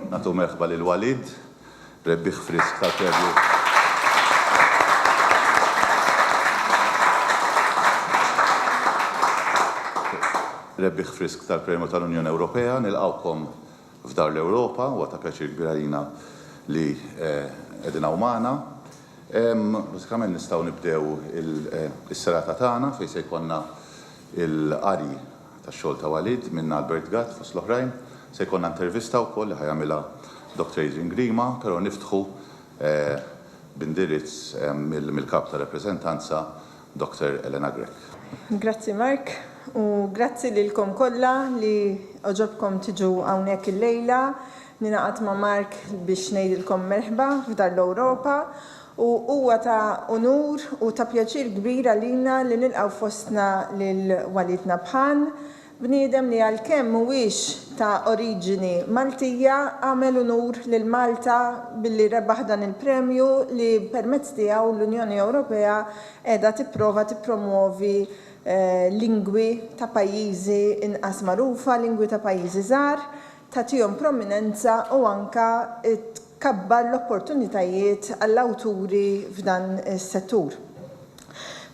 Nagħtu merħba lil Walid, rebbieħ frisk tal-Premju rebbieħ frisk tal-Premju tal-Unjoni Ewropea. Nilqgħukom f'Dar l-Ewropa, huwa ta' pjaċir kbir għalina li qegħdin hawn magħna. Bażikament nistgħu nibdew is-serata tagħna fejn se jkollna l-qari tax-xogħol ta' Walid minn Albert Gatt fost l-oħrajn. Se jkollna intervista wkoll li ħa jagħmilha Doctor Adrian Grima, però niftħu b'indirizz mill-Kap tar-Rappreżentanza Doctor Elena Grech. Grazzi Mark u grazzi lilkom kollha li għoġobkom tiġu hawnhekk illejla. Ningħaqad ma' Mark biex ngħidilkom merħba f'Dar l-Ewropa u huwa ta' unur u ta' pjaċir kbir għalina li nilqgħu fostna lil Walid Nabhan, bniedem li għalkemm mhuwiex ta' oriġini Maltija, għamel unur lil Malta billi rebaħ dan il-premju li permezz tiegħu l-Unjoni Ewropea qiegħda tipprova tippromwovi lingwi ta' pajjiżi inqas magħrufa, lingwi ta' pajjiżi żgħar, tagħtihom prominenza u anke tkabbar l-opportunitajiet għall-awturi f'dan is-settur.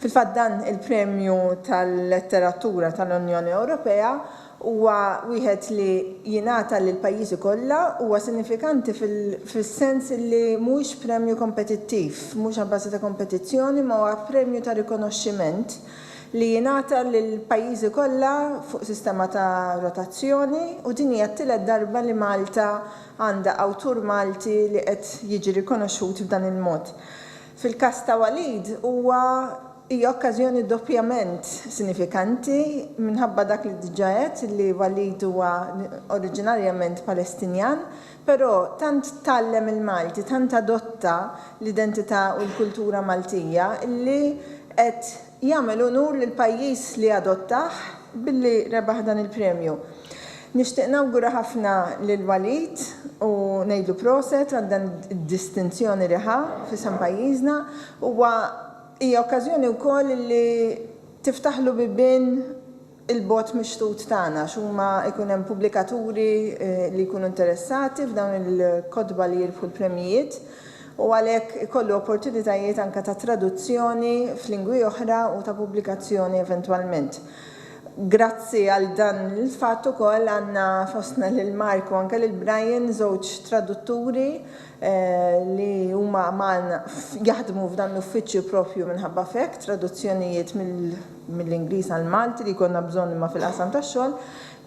Fil-fatt dan il-Premju tal-Letteratura tal-Unjoni Ewropea huwa wieħed li jingħata lill-pajjiżi kollha, huwa sinifikanti fis-sens li mhuwiex premju kompetittiv, mhux abbażi ta' kompetizzjoni imma huwa premju ta' rikonoxximent li jingħata lill-pajjiżi kollha fuq sistema ta' rotazzjoni u din hija t-tielet darba li Malta għandha awtur Malti li qed jiġi rikonoxxut b'dan il-mod. Fil-każ ta' Walid huwa hija okkażjoni doppjament sinifikanti minħabba dak li diġà għedt li Walid huwa oriġinarjament Palestinjan, però tant tgħallem il-Malti, tant adotta l-identità u l-kultura Maltija li qed. jagħmel unur lill-pajjiż li adottah billi rebaħ dan il-premju. Nixtieq nawgura ħafna lil Walid u ngħidlu proset għal dan id-distinzjoni li ħa f'isem pajjiżna. Huwa hija okkażjoni wkoll li tiftaħlu bibien il-bogħod mixtut tagħna għax huma jkun hemm pubblikaturi li jkunu interessati f'dawn il-kotba li jirbħu l-premjijiet u għalhekk ikollu opportunitajiet anke ta' traduzzjoni f'lingwi oħra u ta' pubblikazzjoni eventwalment. Grazzi għal dan il-fatt ukoll għandna fostna lil Mark u anke lil Brian żewġ tradutturi li huma magħna jaħdmu f'dan l-uffiċċju proprju minħabba f'hekk, traduzzjonijiet mill mill-Ingliż għall-Malti li jkollna bżonn imma fil-qasam tax-xogħol,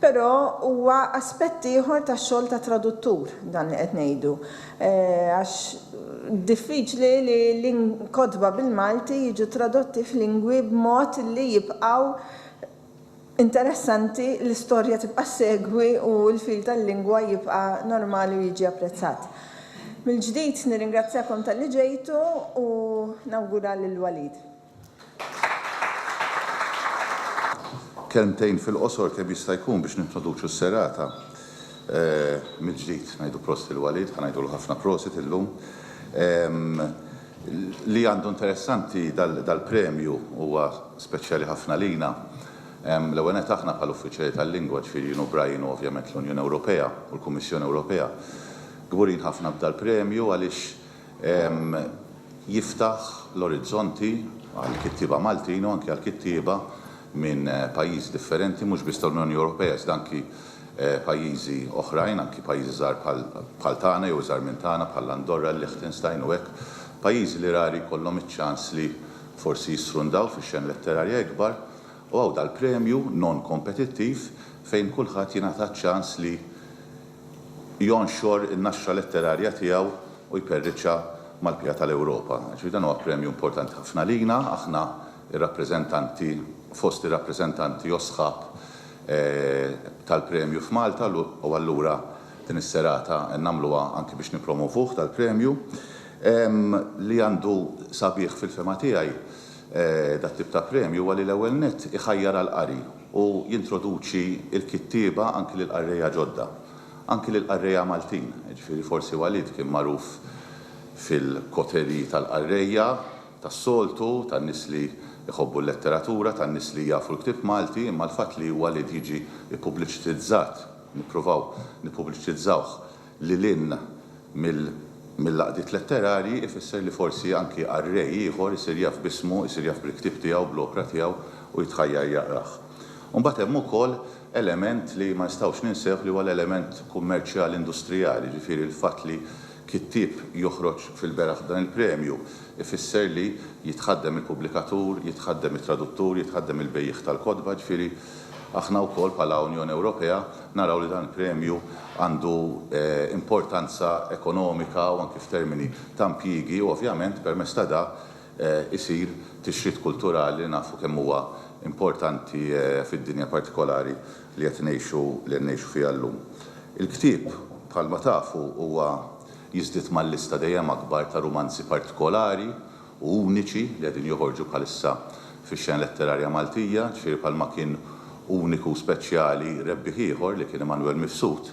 però huwa aspett ieħor tax-xogħol ta' traduttur dan li qed ngħidu. Għax diffiċli li l-kotba bil-Malti jiġu tradotti f'lingwi b'mod li jibqgħu interessanti, l-istorja tibqa' ssegwi u l-fil tal-lingwa jibqa' normali u jiġi apprezzat. Mill-ġdid nirringrazzjakom talli ġejtu u nawgura lil Walid. Kelmtejn fil-qosor kemm jista' jkun biex nintroduċu s-serata mill-ġdid. Ngħidu prosit lil Walid, ħa ngħidulu ħafna prosit illum. Li għandu interessanti dal-premju huwa speċjali ħafna lina, l-ewwel nett aħna bħala Uffiċjali tal-Lingwa, ġifieri jien u Brian u ovvjament l-Unjoni Ewropea u l-Kummissjoni Ewropea, kburin ħafna b'dal-premju għaliex jiftaħ l-orizzonti għall-kittieba Maltin u anki għall-kittieba minn pajjiżi differenti mhux biss tal-Unjoni Ewropea iżda anki pajjiżi oħrajn, anki pajjiżi żgħar bħal tagħna jew iżgħar minn tagħna bħall-Andorra, il-Liechtenstein u hekk, pajjiżi li rari jkollhom iċ-ċans li forsi jisfrundaw fix-xena letterarja ikbar u hawn dal-premju non-kompetittiv fejn kulħadd jingħata ċ-ċans li jonxor in-naxxa letterarja tiegħu u jperriċha mal-bqija tal-Ewropa. Ġifieri dan huwa premju importanti ħafna għalina, aħna r-rappreżentanti, fost ir-rappreżentanti jew sħab tal-premju f'Malta u allura din is-serata nagħmluha anki biex nippromovuh dal-premju li għandu sabiħ fil-fehma tiegħi dat-tip ta' premju huwa li l-ewwel nett iħajjar għall-qari. u jintroduċi l-kittieba anki lil qarrejja ġodda, anki lil qarrejja Maltin, jiġifieri forsi Walid kien magħruf fil-koterji tal-qarrejja tas-soltu, tan-nies li jħobbu l-letteratura, tan-nies li jafu l-ktieb Malti, imma l-fatt li Walid jiġi ppubbliċitizzat, nippruvaw nippubbliċitizzawh, lil hinn mill-għaqdiet letterarji ifisser li forsi anki qarrej ieħor isir jaf b'ismu, isir jaf bil-ktieb tiegħu, bl-opra tiegħu u jitħajjar jaqrah. U mbagħad hemm ukoll element li ma nistgħux ninsewh li huwa l-element kummerċjali industrijali, jiġifieri l-fatt li kittieb joħroġ fil-beraħ b'dan il-premju ifisser li jitħaddem il-pubblikatur, jitħaddem it-traduttur, jitħaddem il-bejjiegħ tal-kotba, jiġifieri aħna wkoll bħala Unjoni Ewropea, naraw li dan il-premju għandu importanza ekonomika u anki f'termini ta' impjiegi u ovvjament permezz ta' dak isir tixrid kulturali li nafu kemm huwa importanti fid-dinja partikolari li qed ngħixu li qed ngħixu fiha llum. Il-ktieb bħalma tafu huwa jiżdied mal-lista dejjem akbar ta' rumanzi partikolari, u uniċi li qegħdin joħorġu bħalissa fix-xena letterarja Maltija, ġifieri bħalma kien uniku u speċjali rebbieħ ieħor li kien Immanuel Mifsud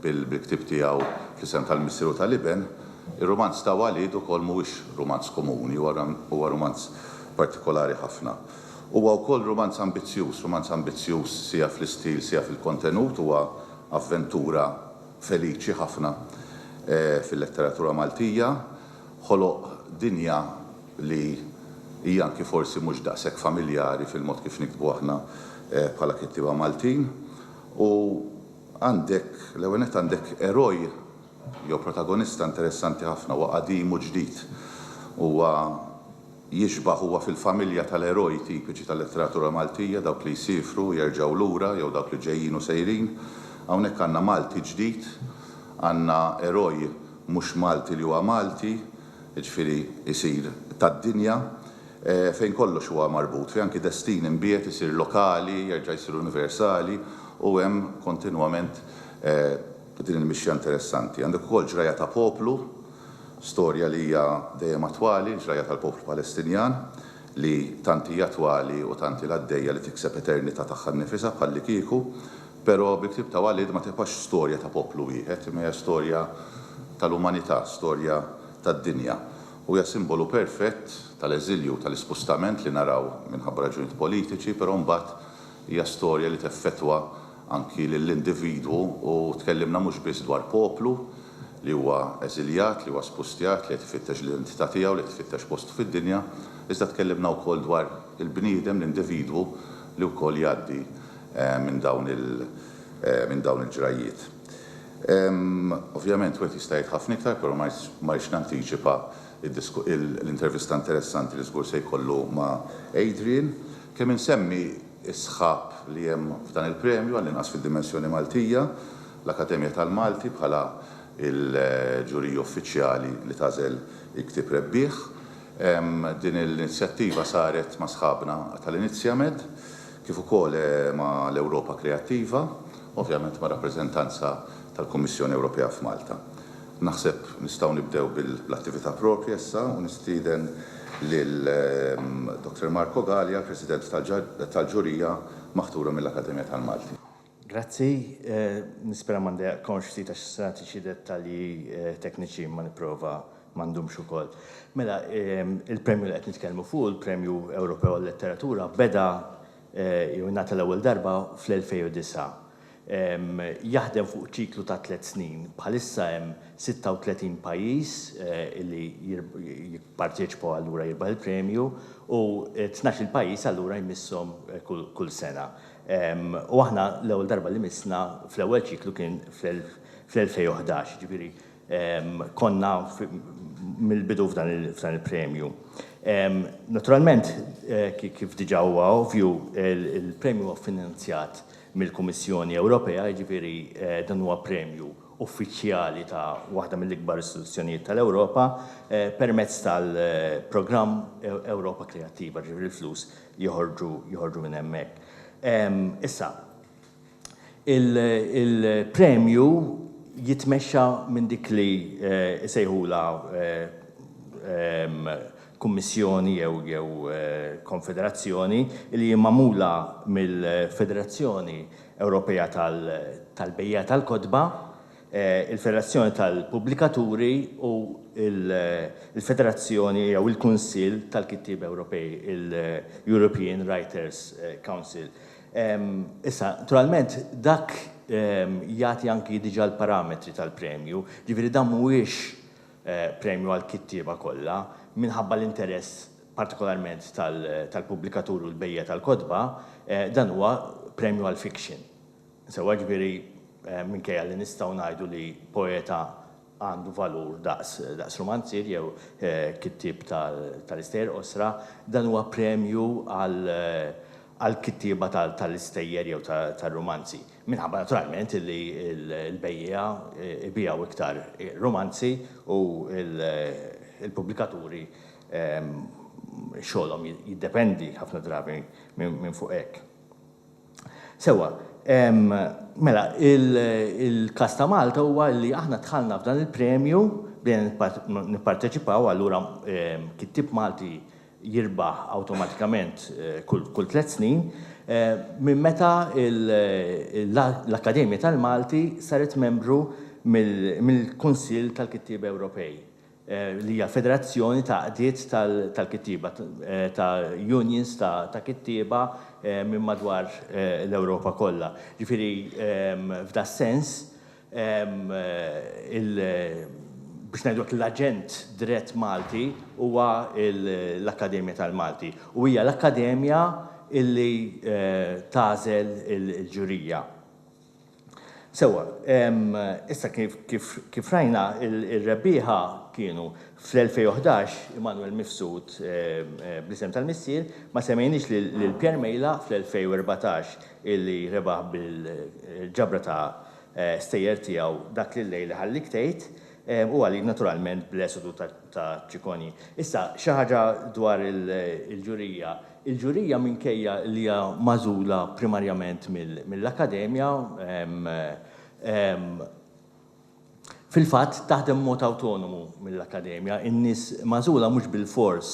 bil-ktieb tiegħu Fl-Isem tal-Missier u tal-Iben, ir-rumanz ta' Walid ukoll mhuwiex rumanz komuni, huwa rumanz partikolari ħafna. Huwa wkoll rumanz ambizzjuż, rumanz ambizzjuż sija fl-istil sija fil-kontenut, huwa avventura feliċi ħafna fil-letteratura Maltija, ħoloq dinja li hija anki forsi mhux daqshekk familjari fil-mod kif niktbu aħna bħala kittieba Maltin. U għandek, l-ewwel nett għandek eroj jew protagonista interessanti ħafna, huwa qadim u ġdid. Huwa. Jixbah huwa fil-familja tal-eroj tipiċi tal-letteratura Maltija, dawk li jsiefru u jerġgħu lura jew dawk li ġejjin u sejrin. Hawnhekk għandna Malti ġdid, għandna eroj mhux Malti li huwa Malti, jiġifieri jsir tad-dinja, fejn kollox huwa marbut, fejn anki destin imbiegħed isir lokali, jerġa' jsir universali u hemm kontinwament din il-mixja interessanti. Għandek ukoll ġrajja ta' poplu, Storja li hija dejjem attwali, il-ġrajja tal-poplu Palestinjan, li tant hi attwali u tant ilha għaddejja li tikseb eternità tagħha nnifisha bħallikieku. Però bi ktieb ta' Walid ma tibqax storja ta' poplu wieħed, imma hija storja tal-umanità, storja tad-dinja. U hija simbolu perfett tal-eżilju u tal-ispustament li naraw minħabba raġunijiet politiċi, però mbagħad hija storja li teffettwa anki lill-individwu u tkellimna mhux biss dwar poplu li huwa eżiljat, li huwa spustjat, li qed ifittex l-identità tiegħu, li qed ifittex postu fid-dinja, iżda tkellimna wkoll dwar il-bniedem, l-individwu li wkoll jgħaddi minn dawn il, minn dawn il-ġrajjiet. Ovvjament wieħed jista' jgħid ħafna iktar, però ma rridx nantiċipa l-intervista interessanti li żgur se jkollu ma' Adrian. Kemm insemmi is-sħab li hemm f'dan il-premju, għall-inqas fid-dimensjoni Maltija, l-Akkademja tal-Malti bħala l-ġurija uffiċjali li tagħżel il-ktieb rebbieħ. Din l-inizjattiva saret ma' sħabna tal-Iniziamed kif ukoll ma' l-Ewropa Kreattiva, ovvjament ma' rappreżentanza tal-Kummissjoni Ewropea f'Malta. Naħseb nistgħu nibdew bil-attività proprja issa u nistieden lil Dr. Marco Galea, l-President tal-Ġurija maħtura mill-Akkademja tal-Malti. Grazzi. Nispera ma ndejjaqkomx ftit għax se nagħti xi dettalji tekniċi imma nipprova ma ndumx ukoll. Mela, il-premju li qed nitkellmu fuqu, il-Premju Ewropew għal-Letteratura, beda jew ingħata l-ewwel darba fl-2009. Jaħdem fuq ċiklu ta' tliet snin. Bħalissa hemm 36 pajjiż li jipparteċipaw allura jirbaħ il-premju u tnax-il pajjiż allura jmisshom kull sena. U aħna l-ewwel darba li missna fl-ewwel ċiklu kien fl-2011, jiġifieri konna mill-bidu f'dan il-premju. Naturalment, kif diġà huwa ovvju, il-premju huwa ffinanzjat mill-Kummissjoni Ewropea, jiġifieri dan huwa premju uffiċjali ta' waħda mill-ikbar istituzzjonijiet tal-Ewropa, permezz tal-programm Ewropa Kreattiva, jiġifieri l-flus joħorġu minn hemmhekk. Issa, il-premju jitmexxa minn dik li jsejħulha Kummissjoni jew jew konfederazzjoni li hi magħmula mill-Federazzjoni Ewropea tal tal-Bejjiegħa tal-Kotba, il-Federazzjoni tal-Pubblikaturi u l-Federazzjoni jew il-Kunsill tal-Kittieb Ewropej, il-European Writers Council. Issa, naturalment, dak jagħti anki diġà l-parametri tal-premju, jiġifieri dan mhuwiex premju għall-kittieba kollha, minħabba l-interess partikolarment tal-pubblikaturi u l-bejjiegħa tal-kotba, dan huwa premju għall-fiction. Sewwa, jiġifieri, minkejja li nistgħu ngħidu li poeta għandu valur daqs rumanzier jew kittieb tal-istejjer qosra, dan huwa premju għall-kittieba tal-istejjer jew tar-rumanzi. Minħabba naturalment li l-bejjiegħa jbigħu iktar rumanzi u l-pubblikaturi xogħolhom jiddependi ħafna drabi minn fuq hekk. Sewwa, mela il-każ ta' Malta huwa li aħna dħalna f'dan il-premju, bdejna nipparteċipaw allura kittieb Malti jirbaħ awtomatikament kull tliet snin, minn meta l-Akkademja tal-Malti saret membru mill-Kunsill tal-Kittieba Ewropej, li hija federazzjoni ta' għaqdiet tal-kittieba, ta' unions ta' kittieba minn madwar l-Ewropa kollha. Ġifieri, f'das-sens, biex ngħidlu hekk, l-aġent dirett Malti huwa l-Akkademja tal-Malti u hija l-Akkademja li tagħżel il-ġurija. Sewwa, issa kif rajna, ir-rebbieħa kienu, fl-2011, Immanuel Mifsud bl-isem tal-missier, ma semmejniex lil Pierre Mejla fl-2014, illi rebaħ bil-ġabra ta' stejjer tiegħu dak li llejl iħallik tgħid, u għalik naturalment bl-esodu ta' ċikonji. Issa, xi ħaġa dwar il-ġurija. Il-ġurija minkejja li hija magħżula primarjament mill-Akkademja, Fil-fatt, taħdem b'mod awtonomu mill-Akkademja. In-nies magħżula mhux bilfors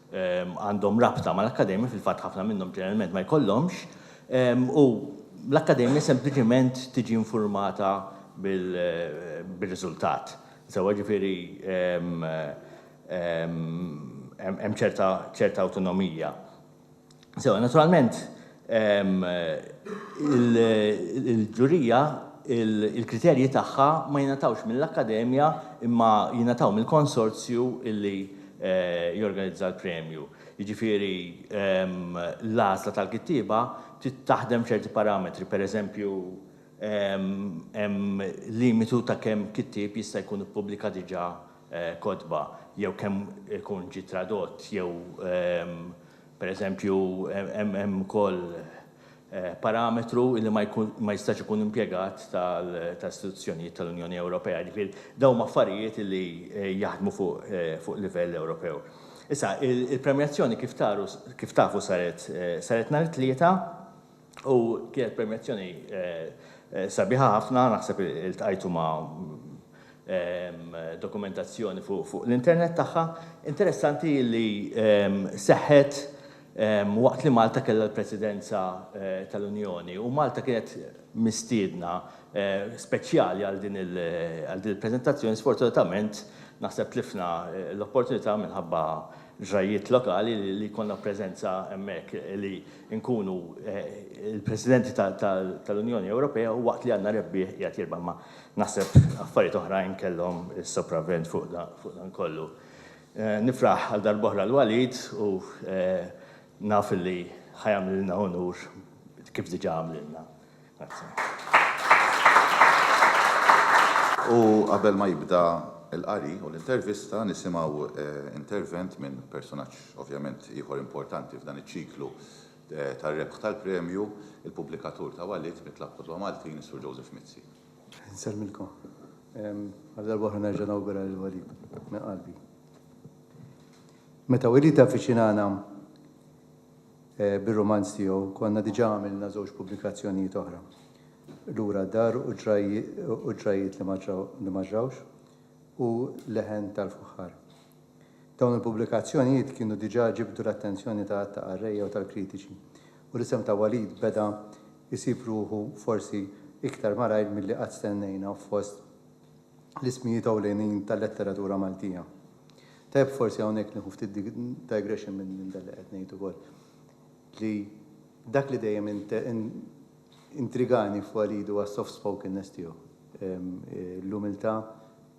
għandhom rabta mal-Akkademja, fil-fatt ħafna minnhom ġeneralment ma jkollhomx, u l-Akkademja sempliċement tiġi infurmata bir-riżultat. Sewwa, ġifieri hemm ċerta awtonomija. Sewa, naturalment, il-ġurija, il-kriterji tagħha ma jingħatawx mill-Akkademja imma jingħataw mill-konsorzju li jorganizza l-premju. Jiġifieri l-għażla tal-kittieba trid taħdem b'ċerti parametri, pereżempju hemm limitu ta' kemm kittieb jista' jkun ippubblika diġà kotba jew kemm ikun ġie tradott jew pereżempju hemm ukoll parametru li ma jistax ikun impjegat ta' istituzzjonijiet tal-Unjoni Ewropea. Jiġifieri dawn huma affarijiet li jaħdmu fuq livell Ewropew. Issa, il-premjazzjoni kif taru kif tafu saret saret nhar it-Tlieta. U kienet permjazzjoni sabiħa ħafna, naħseb iltqajtu ma' dokumentazzjoni fuq l-internet tagħha. Interessanti li seħħet waqt li Malta kellha l-Presidenza tal-Unjoni u Malta kienet mistiedna speċjali għal din il-preżentazzjoni. Sfortunatament naħseb tlifna l-opportunità minħabba ġrajjiet lokali li jkollna preżenza hemmhekk li inkunu l-Presidenti tal-Unjoni Ewropea u waqt li għandna rebbieħ qiegħed jirbaħ ma' naħseb affarijiet oħrajn kellhom is-sopravvent fuq dan kollu. Nifraħ għal darb'oħra l Walid u naf li ħa jagħmlilna unur kif diġà għamlilna. Grazzi. U qabel ma jibda l-qari u l-intervista nisimgħu intervent minn personaġġ ovvjament ieħor importanti f'dan iċ-ċiklu tar-rebħ tal-premju, il-pubblikatur ta' Walid mit-Tlab Kotba Maltin, is-Sur Joseph Mizzi. Insellmilkom. Għal darba oħra nerġa' nawgura lil Walid minn qalbi. Meta Walid avviċinana bir-rumanz tiegħu konna diġà għamilna żewġ pubblikazzjonijiet oħra, Lura d-dar u Ġrajjiet li ma ġrawx u Leħen tal-fuħħar. Dawn il-pubblikazzjonijiet kienu diġà ġibdu l-attenzjoni ta' għadd ta' qarrejja u tal-kritiċi u l-isem ta' Walid beda jsib ruħu forsi iktar malajr milli qatt stennejna fost l-ismijiet ewlenin tal-letteratura Maltija. Tajjeb forsi hawnhekk nieħu ftit digression minn dak li qed ngħid ukoll, li dak li dejjem intrigani f'Walid huwa s-soft spokenness tiegħu, l-umiltà,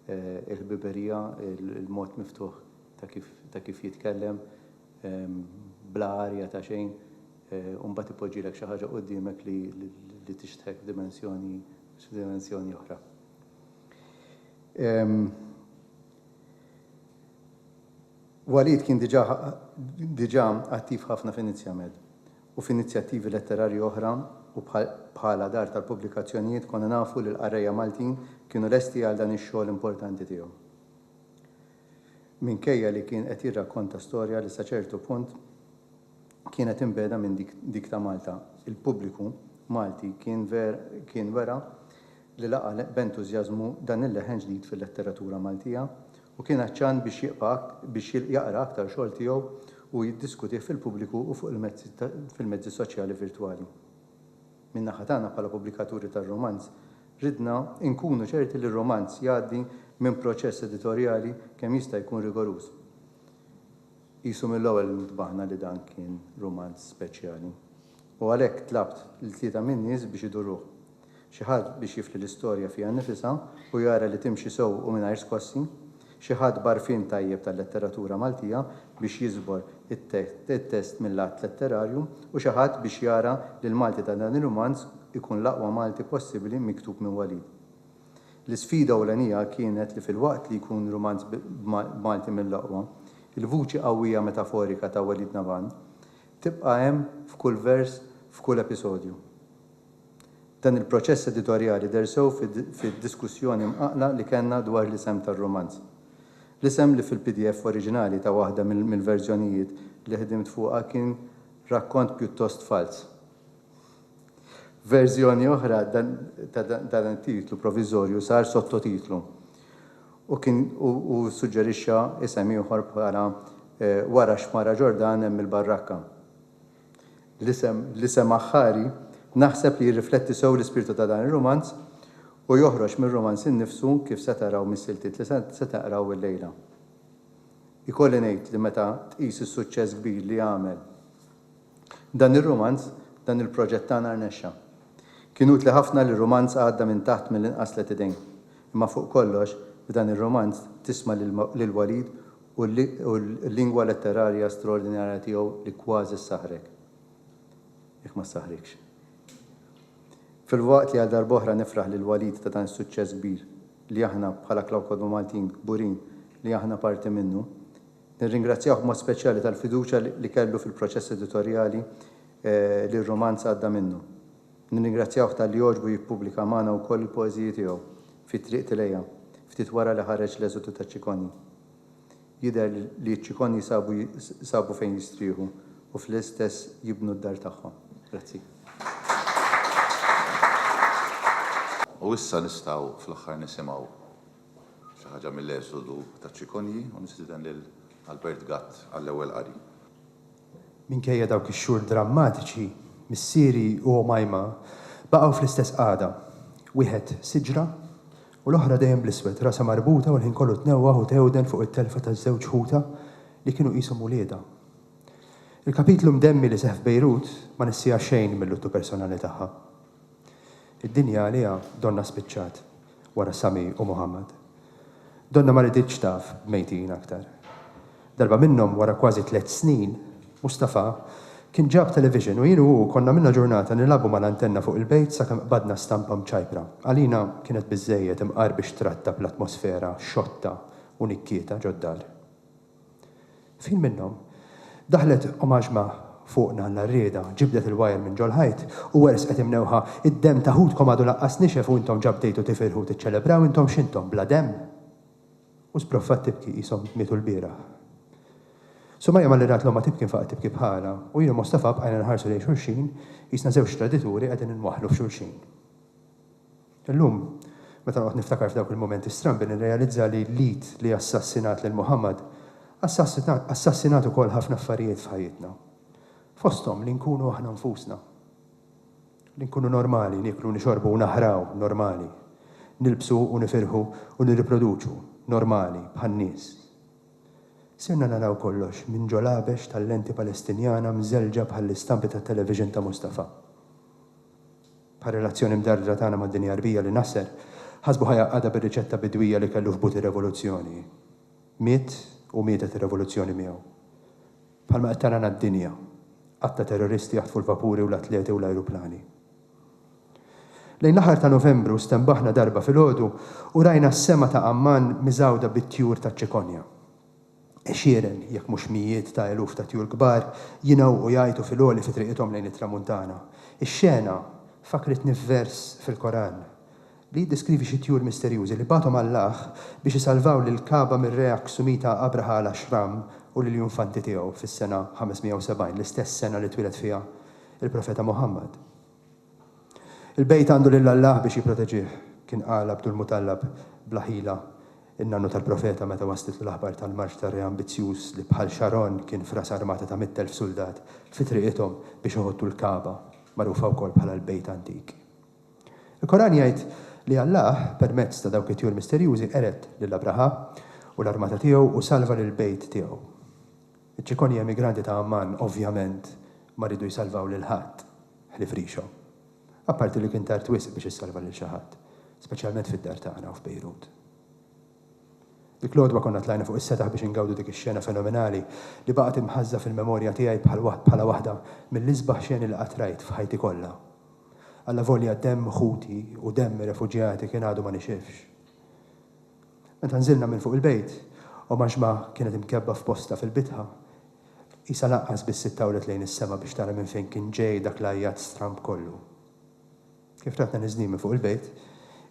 il-ħbiberija, il-mod miftuħ ta' kif jitkellem, bla għarja ta' xejn, u mbagħad ipoġġilek xi ħaġa quddiemek li tixtħek f'dimensjoni oħra. Walid kien diġà diġà attiv ħafna Venezia Med u f'inizjattivi letterarji oħra u bħala dar tal-pubblikazzjonijiet konna nafu li l-qarrejja Maltin kienu lesti għal dan ix-xogħol importanti tiegħu. Minkejja li kien qed jirrakkonta storja li sa ċertu punt kienet imbegħda minn dik ta' Malta, il-pubbliku Malti kien kien wera li laqa' b'entużjażmu dan il-leħen ġdid fil-letteratura Maltija u kien għatxan biex jibqa' biex jaqra aktar xogħol tiegħu u jiddiskutih fil-pubbliku u fuq il-mezzi fil-mezzi soċjali virtwali. Min-naħa tagħna bħala pubblikaturi tar-rumanz ridna nkunu ċerti li r-rumanz jgħaddi minn proċess editorjali kemm jista' jkun rigoruż. Qisu mill-ewwel ntbaħna li dan kien rumanz speċjali u għalhekk tlabt lil tlieta min-nies biex iduruh. Xi ħadd biex jifli l-istorja fiha nnifisha u jara li timxi sew u mingħajr skossi, xi ħadd b'għarfien tajjeb tal-letteratura Maltija biex jiżbor it-test mil-lat letterarju u xi ħadd biex jara li l-Malti ta' dan ir-rumanz ikun l-aqwa Malti possibbli miktub minn Walid. L-isfida ewlenija kienet li filwaqt li jkun rumanz b'Malti mill-aqwa, il-vuċi qawwija metaforika ta' Walid Nabhan tibqa' hemm f'kull vers f'kull episodju. Dan il-proċess editorjali deher sew fid-diskussjoni mqaqqla li kellna dwar l-isem tar-rumanz. L-isem li fil-pdf oriġinali ta' waħda mill-verżjonijiet li ħdimt fuqha kien Rakkont Pjuttost Falz. F'verżjoni oħra ta' dan it-titlu proviżorju sar sottotitlu u kien u ssuġġerixxa isem ieħor bħala Wara x-Xmara Ġordan hemm il-Barrakka. L-isem l-isem aħħari naħseb li jirrifletti sew l-ispirtu ta' dan ir-rumanz u joħroġ mir-rumanz innifsu kif se taraw mis-siltiet li se taqraw illejla. Ikolli ngħid li meta tqis is-suċċess kbir li għamel, Dan ir-rumanz, dan il-proġett tagħna rnexxa. Kien utli ħafna li r-rumanz għadda minn taħt mill-inqas tliet idejn. Imma fuq kollox, f'dan ir-rumanz tisma' lil Walid u l-lingwa letterarja straordinarja tiegħu li kważi ssaħħrek, jekk ma ssaħħrikx. Filwaqt li għal darb'oħra nifraħ lil Walid ta' dan is-suċċess kbir li aħna bħala Klaw Kodba Maltin kburin li aħna parti minnu, Nirringrazzjah b'mod speċjali tal-fiduċja li kellu fil-proċess editorjali li r-rumanz għadda minnu. Nirringrazzjah talli għoġbu jippubblika magħna wkoll il-poeżiji tiegħu fi Triq Tilea, ftit wara li ħareġ L-Eżodu taċ-Ċikonji. Jidher li ċ-Ċikonji sabu fejn jistrieħu u fl-istess jibnu d-dar tagħhom. Grazzi. U issa nistgħu fl-aħħar nisimgħu Xi ħaġa mill-Esodu taċ-ċikonji u nistieden lil Albert Gatt għall-ewwel qari. Minkejja dawk ix-xhur drammatiċi, missieri u għomajma baqgħu fl-istess qagħda. Wieħed siġra u l-oħra dejjem bl-iswed, rasha marbuta u l-ħin kollu tnewwah u tgħewden fuq it-telfa ta' żewġ ħutha li kienu qishom uliedha. Il-kapitlu mdemmi li seħħ f'Bejrut ma nissieha xejn mil-luttu personali tagħha. Id-dinja għaliha donnha spiċċat wara Sami u Muhammad. Donnha ma riditx taf b'mejtin aktar. Darba minnhom wara kważi tliet snin, Mustafa kien ġab television u jien u hu konna għamilna ġurnata nilgħabu mal-antenna fuq il-bejt sakemm qbadna stampa mċajpra. Għalina kienet biżżejjed imqar biex trattab l-atmosfera xotta u nikkieta ġod-dar. F'ħin minnhom, daħlet omaġma fuqna la rriedha, ġibdet il-wajer minn ġol-ħajt u werżqet imnewħa, Id-demm ta' ħutkom għadu laqqas nixef u intom ġa bdejtu tifirħu u tiċċelebraw, intom x'intom, bla demm? U sbroffat tibki qishom mietu lbieraħ. Sumaja malli rat l-ommha tibki nfaqgħet tibki bħalha u jien u Mostafa bqajna nħarsu lejn xulxin qisna żewġ tradituri qegħdin inwaħħlu f'xulxin. Illum, meta noqgħod niftakar f'dawk il-mumenti strambi nirrealizza li l-id li assassinat lil Muhammad assassinat ukoll ħafna affarijiet f'ħajjitna. Fosthom li nkunu aħna nfusna. Li nkunu normali, nieklu u nixorbu u naħraw, normali. Nilbsu u nifirħu u nirriproduċu, normali, bħan-nies. Sirna naraw kollox minn ġolabex tal-lenti Palestinjana mżelġa bħall-istampi tat-television ta' Mustafa. bħar-relazzjoni mdardra tagħna mad-dinja Għarbija li Nasser ħasbu ħa jgħaqqadha bir-riċetta bidwija li kellu f'but ir-revoluzzjoni. Miet u mietet ir-revoluzzjoni miegħu. Bħalma qed tarana d-dinja, għadd ta' terroristi jaħtfu l-vapuri u l-atleti u l-ajruplani. Lejn l-aħħar ta' Novembru stenbaħna darba filgħodu u rajna s-sema ta' Amman miżgħuda bit-tjur taċ-ċikonja. għexieren, jekk mhux mijiet ta' eluf ta' tjur kbar jingħewqu jgħajtu fil-għoli fi triqithom lejn it-Tramuntana. Ix-xena fakkritni f'vers fil-Koran li jiddeskrivi xi tjur misterjużi li bagħathom Allaħ biex isalvaw lill-Kagħba mir-Re Aksumita Abraha al-Ashram u lill-junfanti tiegħu fis-sena 570, l-istess sena li twieled fiha l-Profeta Muħammad. Il-bejt għandu lil Alla biex jipproteġih, kien qal Abdulmutallab bla ħila, in-nannu tal-Profeta meta waslitlu l-aħbar tal-marċ ta' re ambizzjuż li bħal Xaron kien fras armata ta' mitt elf suldat fi triqithom biex iħottu l-Kagħba, magħrufa wkoll bħala l-Bejt Antik. Il-Koran jgħid li Alla, permezz ta' dawk it-tjur misterjużi, qered lil Abraħa u l-armata tiegħu u salva lill-bejt tiegħu. Iċ-ċikonji emigranti ta' Amman ovvjament ma riedu jsalvaw lil ħadd ħlief rixhom. Apparti li kien tard wisq biex issalva lil xi ħadd, speċjalment fid-dar tagħna u f'Bejrut. Dik l-għodwa konna tlajna fuq is-setaħ biex ingawdu dik ix-xena fenomenali li baqgħet imħażża fil-memorja tiegħi bħala waħda mill-isbaħ xeni li qatt rajt f'ħajti kollha. Allavolja demm ħuti u demm ir-refuġjati kien għadu ma nixifx. Meta nżilna minn fuq il-bejt, Omaxma kienet imkebbha f'postha fil-bitħa. Qisha lanqas biss ittawlet lejn is-sema biex tara minn fejn kien ġej dak l-għajjat stramb kollu. Kif ratna niżlin minn fuq il-bejt,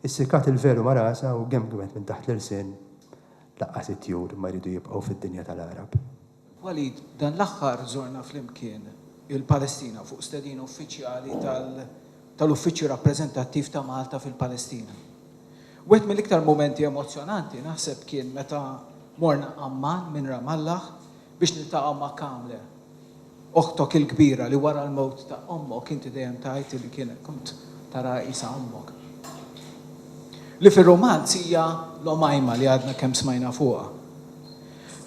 issikat il-velu ma' rasha u gemgemet minn taħt l-irsien, Lanqas it-tjur ma jridu jibqgħu fid-dinja tal-għarab. Walid, Dan l-aħħar żorna flimkien il-Palestina fuq stedina uffiċjali tal-Uffiċċju Rappreżentattiv ta' Malta fil-Palestina. Wieħed mill-iktar mumenti emozzjonanti naħseb kien meta morna Amman minn Ramallah biex niltaqgħu ma' Kamle, oħtok il-kbira li wara l-mewt ta' ommok inti dejjem tgħid li kien kont taraha qisha ommok. Li fir-rumanz hija l-Omajma li għadna kemm smajna fuqha.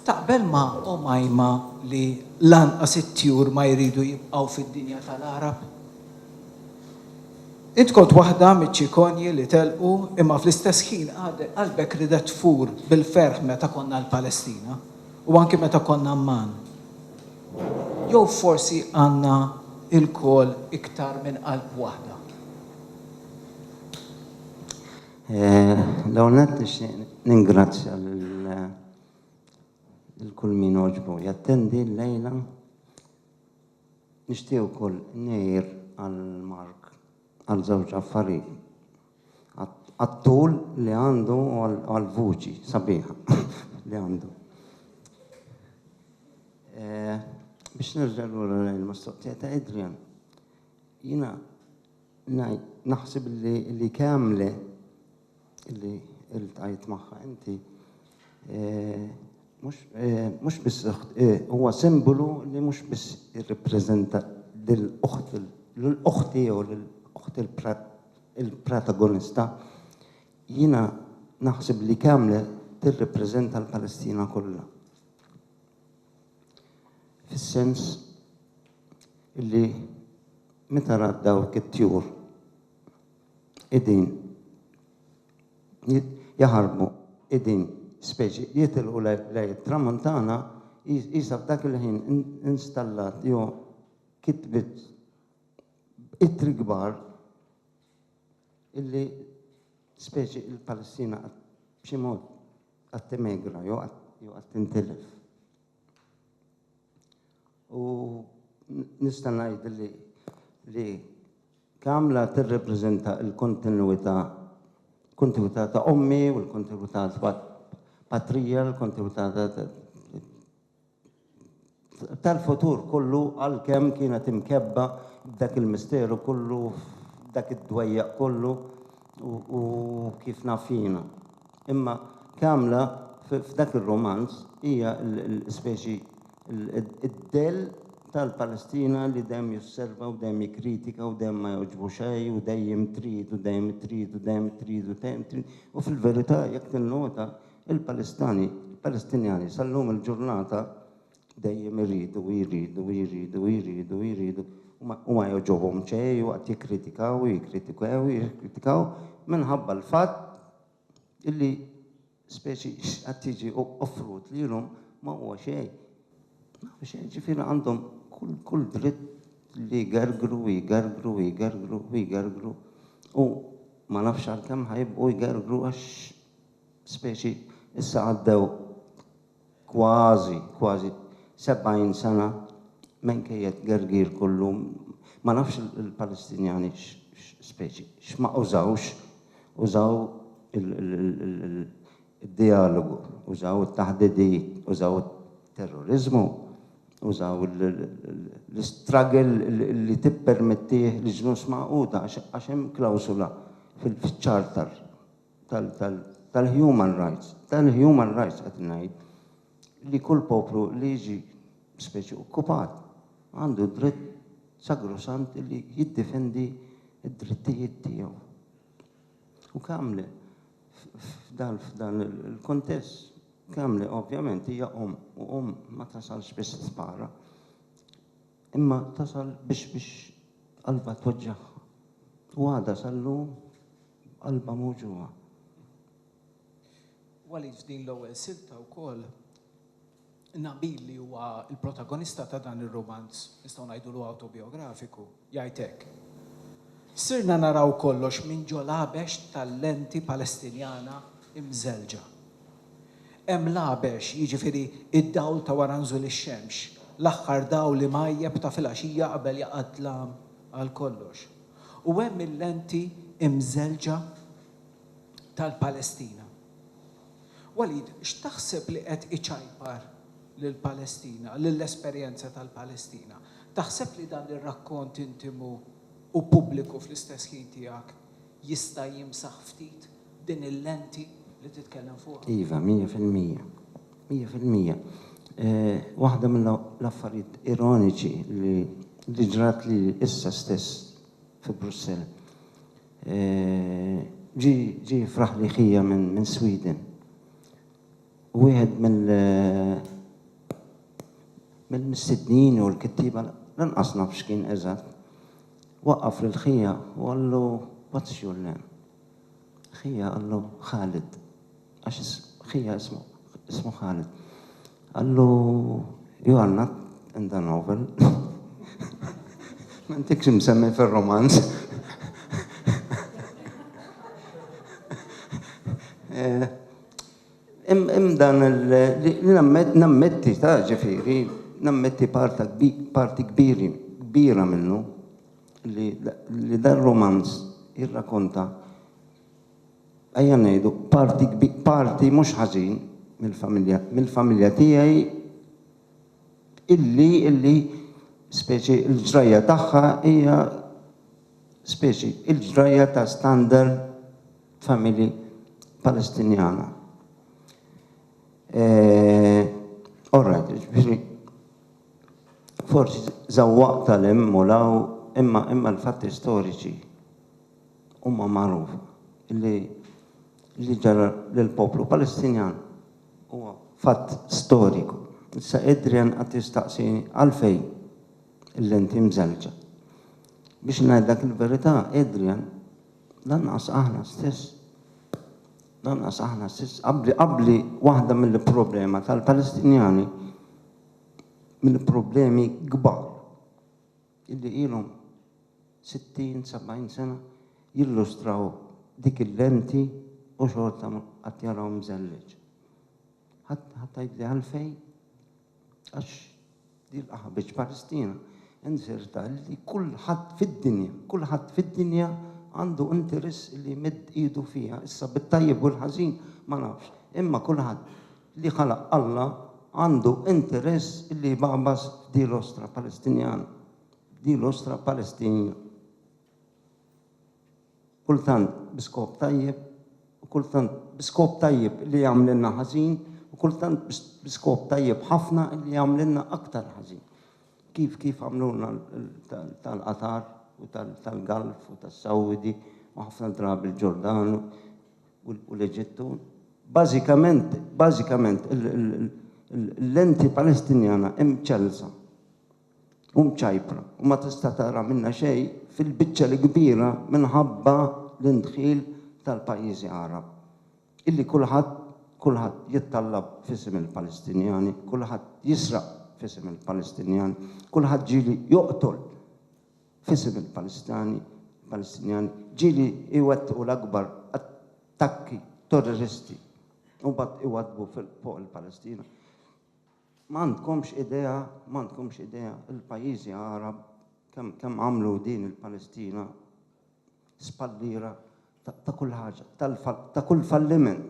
Taqbel ma' Omaima li lanqas it-tjur ma jridu jibqgħu fid-dinja tal-għarab? Int kont waħda miċ-ċikonji li telqu imma fl-istess ħin għadek qalbek ridet tfur bil-ferħ meta konna l-Palestina u anki meta konna Amman. Jew forsi għandna ilkoll iktar minn qalb waħda? L-ewwel nett nixtieq ningrazzja lil kull min għoġbu jattendi llejla. Nixtieq ukoll ngħir għal Mark għal żewġ affarijiet. Għat-tul li għandu u għall-vuċi sabiħa li għandu. Biex nerġa' lura lejn il-mistoqsija ta' Adrian, jiena Naħseb li kemm li li il-tajt magħha inti mhux biss huwa simbolu li mhux biss jirrappreżenta lill-oħt l-oħti jew l-oħt il-protagonista. Jiena naħseb li kemm li tirrappreżenta l-Palestina kollha. fis-sens illi meta rat dawk it-tjur qegħdin jaħarbu qegħdin speċi jitilqu lejn it-tramuntana qisha f'dak il-ħin installat jew kitbet ittri kbar illi Speċi il-Palestina qed b'xi mod qed timegra jew qed jew qed tintilef. U nista' ngħid li li Kamla tirrepreżenta l-kontinwità kontinwità ta' ommi u l-kontinwità ta' patrija, l-kontinwità ta' tal-futur kollu għalkemm kienet imkebbha b'dak il-misteru kollu f'dak id-dwejjaq kollu u, u kif naf jiena. Imma Kamla f- f'dak ir-rumanz hija l- l- speċi l- id-dell tal-Palestina li dejjem josserva u dejjem jikkritika u dejjem ma jogħġbu xejn u dejjem trid u dejjem trid u dejjem trid u dejjem trid u fil-verità jekk tinnota Il-Palestinjani sal-lum il-ġurnata dejjem iridu u jridu u jridu u jridu u jridu u ma jogħġobhom xejn u qatt jikkritikaw u jikkritikaw u jikkritikaw minħabba l-fatt illi speċi x'qed jiġi offrut lilhom ma huwa xejn. Ma huwa xejn, ġifieri għandhom kull dritt li jgergru u jgergru u jgergru u jgergru u ma nafx għalkemm ħa jibqgħu jgergru għax speċi issa għaddew kważi, kważi 70 sena minkejja t-tgergir kollu, ma nafx il-Palestinjani speċi x'ma użawx, użaw id-djalogu, użaw it-taħdidiet, użaw it-terroriżmu, użaw l-istruggle li tippermettih l-Ġnus Magħquda għax hemm klawsula fil-Charter. tal-human rights, tal-human rights qed ngħid li kull poplu li jiġi speċi okkupat għandu d-dritt sagrosant li jiddifendi d-drittijiet tiegħu. U Kamli f'dan f'dan il-kuntest Kamli ovvjament hija omm u omm ma tasalx biex spara. Imma tasal biex biex qalbha tweġġagħha. U għadha sal-lum b'qalbha mewġugħa. Walid f'din l-ewwel silta wkoll Nabil li huwa l-protagonista ta' dan ir-rumanz, nistgħu ngħidulu awtobijografiku, jgħid hekk, Sirna naraw kollox minn ġo l-għabex tal-lenti Palestinjana imżelġa. Hemm l-għabex, jiġifieri d-dawl ta' wara nżul ix-xemx, l-aħħar dawl imgħajjeb ta' filgħaxija qabel jaqa' d-dlam għal kollox. U hemm il-lenti imżelġa tal-Palestina. Walid, x'taħseb li qed iċajpar lill-Palestina, lill-esperjenza tal-Palestina? Taħseb li dan ir-rakkont intimu u pubbliku fl-istess ħin tiegħek Jista' jimsaħ ftit din il-lenti li titkellem fuqha? Iva, mija fil-mija. Mija fil-mija. Waħda mill-affarijiet ironiċi li ġrat lili issa stess fi Brussell. Ġie jifraħli ħija minn Sweden u wieħed mill-mistednin jew il-kittieba, lanqas naf x'kien eżatt, Waqqaf lil ħija u qallu, What's your name? Ħija qallu, Khalid. Għax ħija ismu Khalid. Qallu, You are not in the novel. M'intikx imsemmi fir-rumanz. Hemm dan li nammetti ta' ġifieri nammetti parti kbiri kbira minnu li li dar romanz jirrakonta ejja ngħidu parti parti mhux ħażin mill-familja mill-familja tiegħi illi illi speċi l-ġrajja tagħha hija speċi l-ġrajja ta' standard familji Palestinjana. Eh, all right, ġifieri forsi żawwaq tal-hemm u law imma imma l-fatti storiċi huma magħruf li li ġara lill-poplu Palestinjan huwa fatt storiku. Issa Adrian qatt jistaqsini għalfejn il-lenti mżelġa. Biex ngħidlek il-verità, Adrian Lanqas aħna stess, lanqas aħna stess, qabbli qabbli waħda mill-problema tal-Palestinjani, mill-problemi kbar illi ilhom 60, 70 sena jillustraw dik il-lenti u xorta qatt jaraw mżelleġ. Ħadd ħadd tgħidli għalfejn? Għax Jilqa' ħabieġ Palestina, inzerta li kulħadd fid-dinja, kulħadd fid-dinja għandu interess li jmidd idu fiha, issa bit-tajjeb u l-ħażin ma nafx, imma kulħadd li ħalaq Alla għandu interess li jbagħbas f'dil-ostra Palestinjana, f'dil-ostra Palestinja. kultant bi skop tajjeb u kultant bi skop tajjeb li jagħmlilna ħażin u kultant bi skop tajjeb ħafna li jagħmlilna aktar ħażin. Kif kif għamlulna tal-Qatar u tal-Galf u tas-Sawdi u ħafna drabi l-Ġordan u l-Eġittu. Bażikament, bażikament l-lenti Palestinjana imċellsa u mċajpra u ma tista' tara minnha xejn fil-biċċa l-kbira minħabba l-indħil tal-pajjiżi Għarab, illi kulħadd, kulħadd jittallab f'isem il-Palestinjani, kulħadd jisraq f'isem il-Palestinjani, kulħadd ġieli joqtol f'isem il-Palestani, Palestinjani, ġieli jwettqu l-akbar attakki torriristi u mbagħad iwaddbu fuq il-Palestina. M'għandkomx idea, m'għandkomx idea il-pajjiżi Għarab kemm kemm għamlu din il-Palestina spalliera ta' ta' kull ħaġa, ta' kull falliment.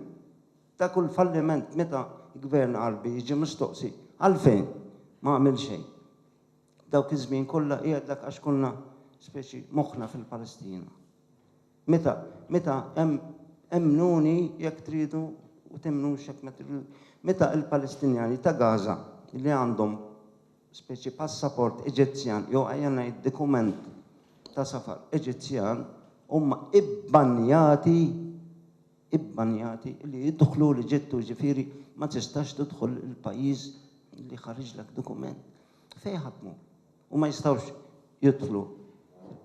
Ta' kull falliment meta gvern Għarbi jiġi mistoqsi għalfejn ma għamil xejn. Dawk iż-żmien kollha jgħidlek għax konna speċi moħħna fil-Palestina. Meta, meta, em, emmnuni jekk tridu u temmnux jekk ma tridux, meta il-Palestinjani ta' Gaza li għandhom speċi passaport Eġizzjan jew ejja ngħid dikument ta' safar Eġizzjan huma ibbanjati ibbanjati li jidħlu l-Eġittu ġifieri ma tistax tidħol il-pajjiż li ħariġlek dikument. Fejn ħadd mur? u ma jistgħux jidħlu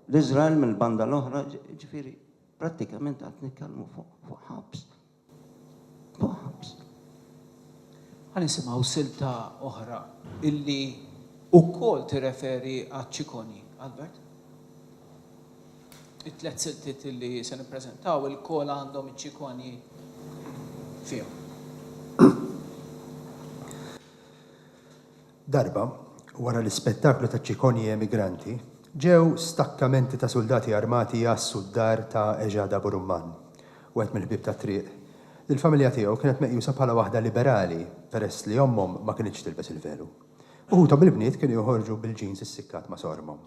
l-Iżrael mill-banda l-oħra, jiġifieri prattikament qed nitkellmu fuq ħabs. Fuq ħabs. Ħa nisimgħu silta oħra illi wkoll tirreferi għaċ-ċikoni, Albert. It-tliet siltiet illi se nippreżentaw ilkoll għandhom iċ-ċikoni fihom. Darba, wara l-ispettaklu taċ-ċikonji emigranti, ġew stakkamenti ta' suldati armati jgħassu d-dar ta' Ejada Burumman, wieħed mill-ħbieb tat-triq, li l-familja tiegħu kienet meqjusa bħala waħda liberali peress li ommhom ma kinitx tilbes il-velu. Uħudhom il-bniet kienu joħorġu bil-jeans issickat ma' sormhom.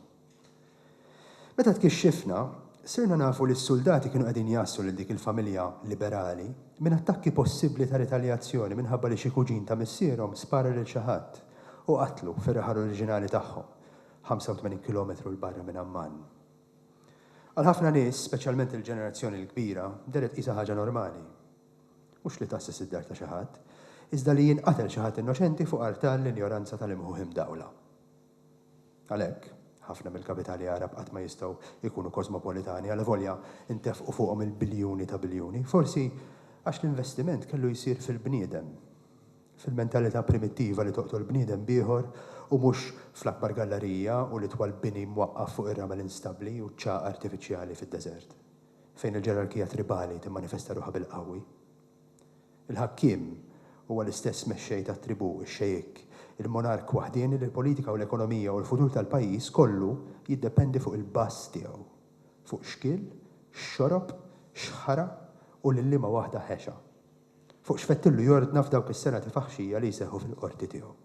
Meta tkixxifna, sirna nafu li s-suldati kienu qegħdin jgħassu lil dik il-familja liberali minn attakki possibbli ta' ritaljazzjoni minħabba li xi kuġin ta' missierhom spara lil xi ħadd u qatlu fir-raħal oriġinali tagħhom, 85 kilometru 'l barra minn Amman. Għal ħafna nies, speċjalment il-ġenerazzjoni l-kbira, deher tqisha ħaġa normali. Mhux li tgħasses id-dar ta' xi ħadd, iżda li jinqatel xi ħadd innoċenti fuq artal l-injoranza tal-imħuħ imdawla. Għalhekk, ħafna mill-kapitali Għarab qatt ma jistgħu jkunu kosmopolitani, alavolja ntefqu fuqhom il-biljuni ta' biljuni. Forsi għax l-investiment kellu jsir fil-bniedem, fil-mentalità primittiva li toqtol bniedem b'ieħor u mhux fl-akbar gallarija u l-itwal bini mwaqqaf fuq ir-ramel instabbli u ċ-ċagħaq artifiċjali fid-deżert, fejn il-ġerarkija tribali timmanifesta ruħha bil-qawwi. Il-ħakkiem huwa l-istess mexxej tat-tribù, ix-xejikk, il-monark waħdieni li l-politika u l-ekonomija u l-futur tal-pajjiż kollu jiddependi fuq il-bażż tiegħu, fuq x'kiel, x'xorob, x'ħara u lil liema waħda ħexa, fuq x'fettillu jordna f'dawk is-serati faħxija li jseħħu fil-qorti tiegħu.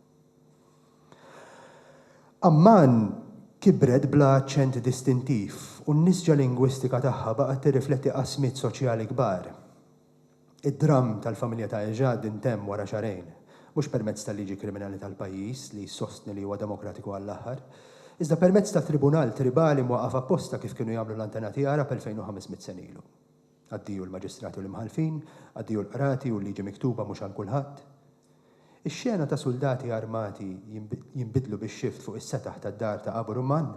Amman kibret bla aċċent distintiv u n-nisġa lingwistika tagħha baqgħet tirrifletti qasmiet soċjali kbar. Id-dramm tal-familja ta' Ejad intemm wara xahrejn, mhux permezz tal-liġi kriminali tal-pajjiż li jsostni li huwa demokratiku għall-aħħar, iżda permezz ta' tribunal tribali mwaqqaf apposta kif kienu jagħmlu l-antenati Għarab 2,500 sena ilu. Addio l-maġistrati u l-imħallfin, addio l-qrati u l-liġi miktuba mhux għal kulħadd. Ix-xena ta' suldati armati jinbidlu bix-xift fuq is-setaħ tad-dar ta' Abu Rumman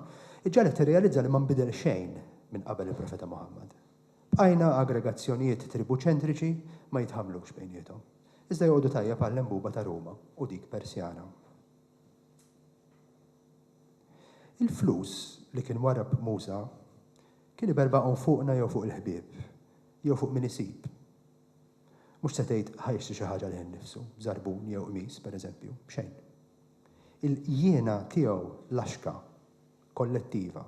iġġagħlek tirrealizza li ma nbidel xejn minn qabel il-Profeta Muħammad. Bqajna aggregazzjonijiet tribuċentriċi ma jitħammlux bejniethom, iżda joqogħdu tajjeb għall-għenbuba ta' Ruma u dik Persjana. Il-flus li kien warrab Musa kien iberbaghom fuqna jew fuq il-ħbieb, jew fuq min isib. Mhux se tgħid ħa jixtri xi ħaġa lejh innifsu, żarbun jew qmis, pereżempju, xejn. Il-jiena tiegħu laxka. kollettiva,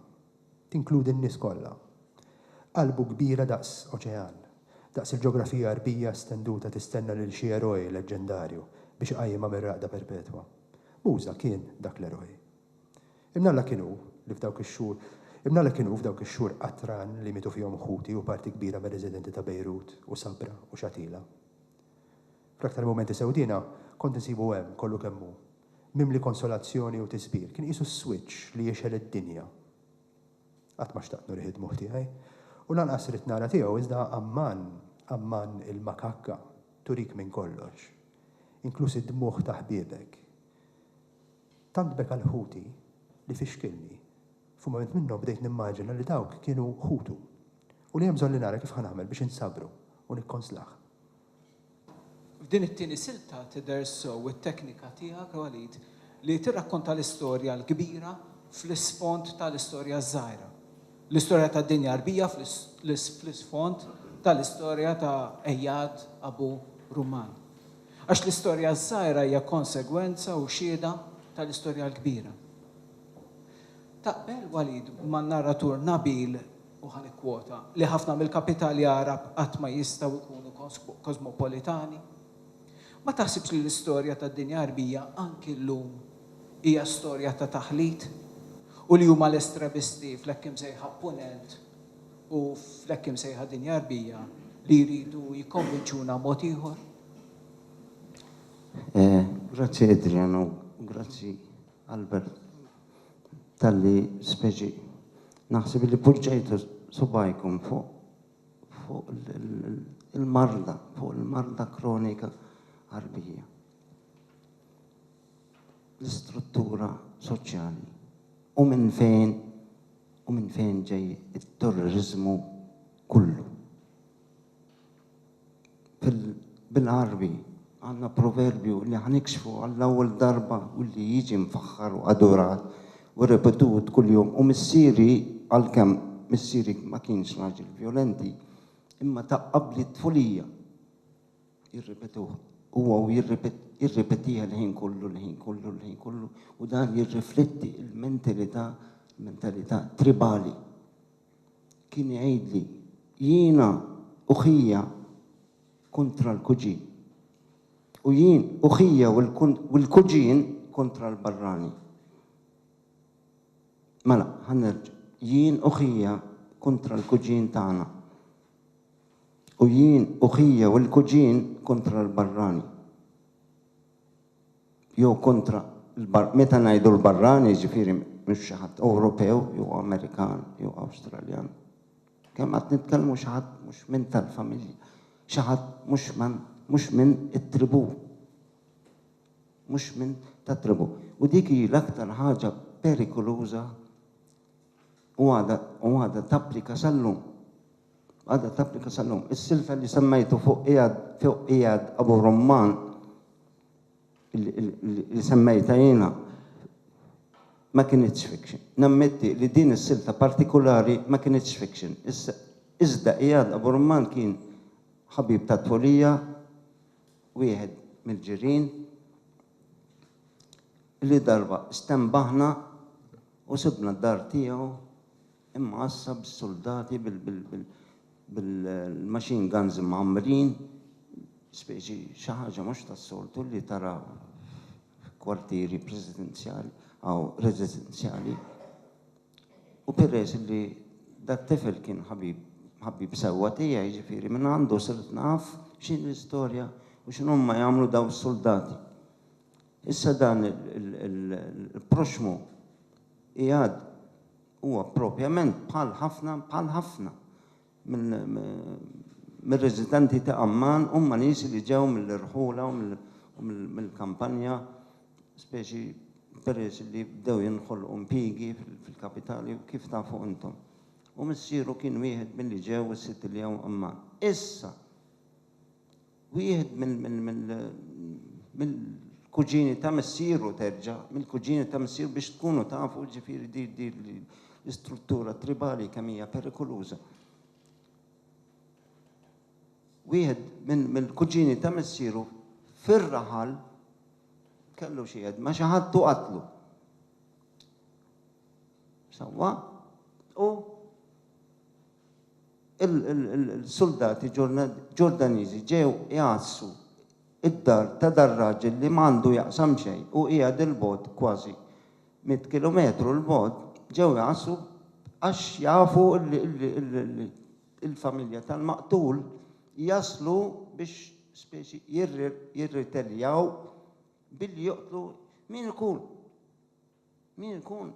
tinkludi n-nies kollha. Qalbu kbira daqs oċean, daqs il-ġeografija Għarbija stenduta tistenna lil xi eroj leġġendarju biex iqajjimha mir-raqda perpetwa. Muża kien dak l-eroj. Ibn Alla kien hu li f'dawk ix-xhur Ibn Alla kien hu f'dawk ix-xhur qatran li mietu fihom ħuti u parti kbira mir-residenti ta' Bejrut u Sabra u Shatila. Fl-aktar mumenti sewdiena kont insibu hemm kollu kemm hu. Mimli konsolazzjoni u tiżbir. Kien qisu s-swiċċ li jixgħel id-dinja. Qatt ma xtaqt nurih id-dmugħ tiegħi. U lanqas ridt nara tiegħu iżda Amman, Amman il-makakka, turik minn kollox. Inkluż id-dmugħ ta' ħbiebek. Tant beka l ħuti li fixkilni. F'mument minnhom bdejt nimmaġina li dawk kienu ħutu. U li hemm bżonn li nara kif ħa nagħmel biex insabru u nikkonslah. F'din it-tieni silta tidher sew it-teknika tiegħek, Walid, li tirrakkonta l-istorja l-kbira fl-isfond tal-istorja ż-żgħira. L-istorja tad-dinja Għarbija fl-isfond tal-istorja ta' Ejad Abu Rumman. Għax l-istorja ż-żgħira hija konsegwenza u xhieda tal-istorja l-kbira. Taqbel, Walid, man-narratur Nabil u ħa nikkwota, li ħafna mill-kapitali Għarab qatt ma jistgħu jkunu kosmopolitani? Ma taħsibx li l-istorja tad-dinja Għarbija anki llum hija storja ta' taħlit u li huma l-estremisti fl-hekk imsejħa Punent u fl-hekk imsejħa dinja Għarbija li jridu jikkonvinċuna mod ieħor? Grazzi Adrian u grazzi Albert. Talli speċi naħseb li poġġejtu subgħajkom fuq fuq il-marda, fuq il-marda kronika Għarbija. L-istruttura soċjali u minn fejn u minn fejn ġej it-terroriżmu kollu. Bil-Għarbi għandna proverbju li ħa nikxfu għall-ewwel darba u li jiġi mfaħħar u adurat u repetut kuljum u missieri għalkemm missieri ma kienx raġel vjolenti imma ta' qabli t-tfulija jirripetuh huwa u jirripetih il-ħin kollu l-ħin kollu l-ħin kollu u dan jirrifletti l-mentilità mentalità tribali. kien igħidli, jiena u ħija kontra l-kuġin, u jien u ħija u l-kuġin kontra l-barrani. Mela, ħa nerġa', jien u ħija kontra l-kuġin tagħna, u jien u ħija u l-kuġin kontra l-barrani. jew kontra l-bar, meta ngħidu l-barrani jiġifieri mhux xi ħadd Ewropew jew Amerikan jew Awstraljan. Kemm qatt nitkellmu xi ħadd mhux minn tal-familja, xi ħadd mhux man mhux minn it-tribù. Mhux minn tat-tribù. U dik hi l-aktar ħaġa perikoluża u għadha u għadha tapplika sal-lum. għadha tapplika sal-lum. Is-silfel li semmejtu fuq qiegħed fuq qiegħed Abu Rumman li semmejta jiena ma kinitx fiction. Nammetti li din is-silta partikulari ma kinitx fiction. Iżda qiegħed Abu Rumman kien ħabib tat-tfulija, wieħed mill-ġirien, li darba stenbaħna u sibna d-dar tiegħu imgħassa bis-suldati bil-machine guns imgħammrin, speċi xi ħaġa mhux tas-soltu li tara f'kwartieri presidenzjali aw residenzjali. U peress li dat-tifel kien ħabib ħabib sewwa tiegħi, jiġifieri mingħandu sirt naf x'inhi l-istorja u x'inhuma jagħmlu dawn is-suldati. Issa dan il-proxxmu qiegħed Huwa propjament bħal ħafna, bħal ħafna mir-residenti ta' Amman, huma nies li ġew mill-irħula u mill-kampanja, speċi peress li bdew jinħolqu impjiegi fil-kapitali u kif tafu intom. U missieru kien wieħed milli ġew u sitt iljew Amman. Issa! Wieħed mill-kuġini ta' missieru terġa' mill-kuġini ta' missieru biex tkunu tafu ġifieri di di l-istruttura tribali kemm hija perikoluża. Wieħed minn mill-kuġini ta' missieru fir-raħal kellu xi jedd ma' xi ħadd u qatlu. Sewwa? U il-suldati Ġordaniżi ġew igħassu d-dar ta' dar-raġel li m'għandu jaqsam xejn u qiegħed 'il bogħod kważi mitt kilometru 'l bogħod, ġew igħassu għax jafu li l-familja tal-maqtul jaslu biex speċi jirriteljaw billi joqtlu min ikun. Min ikun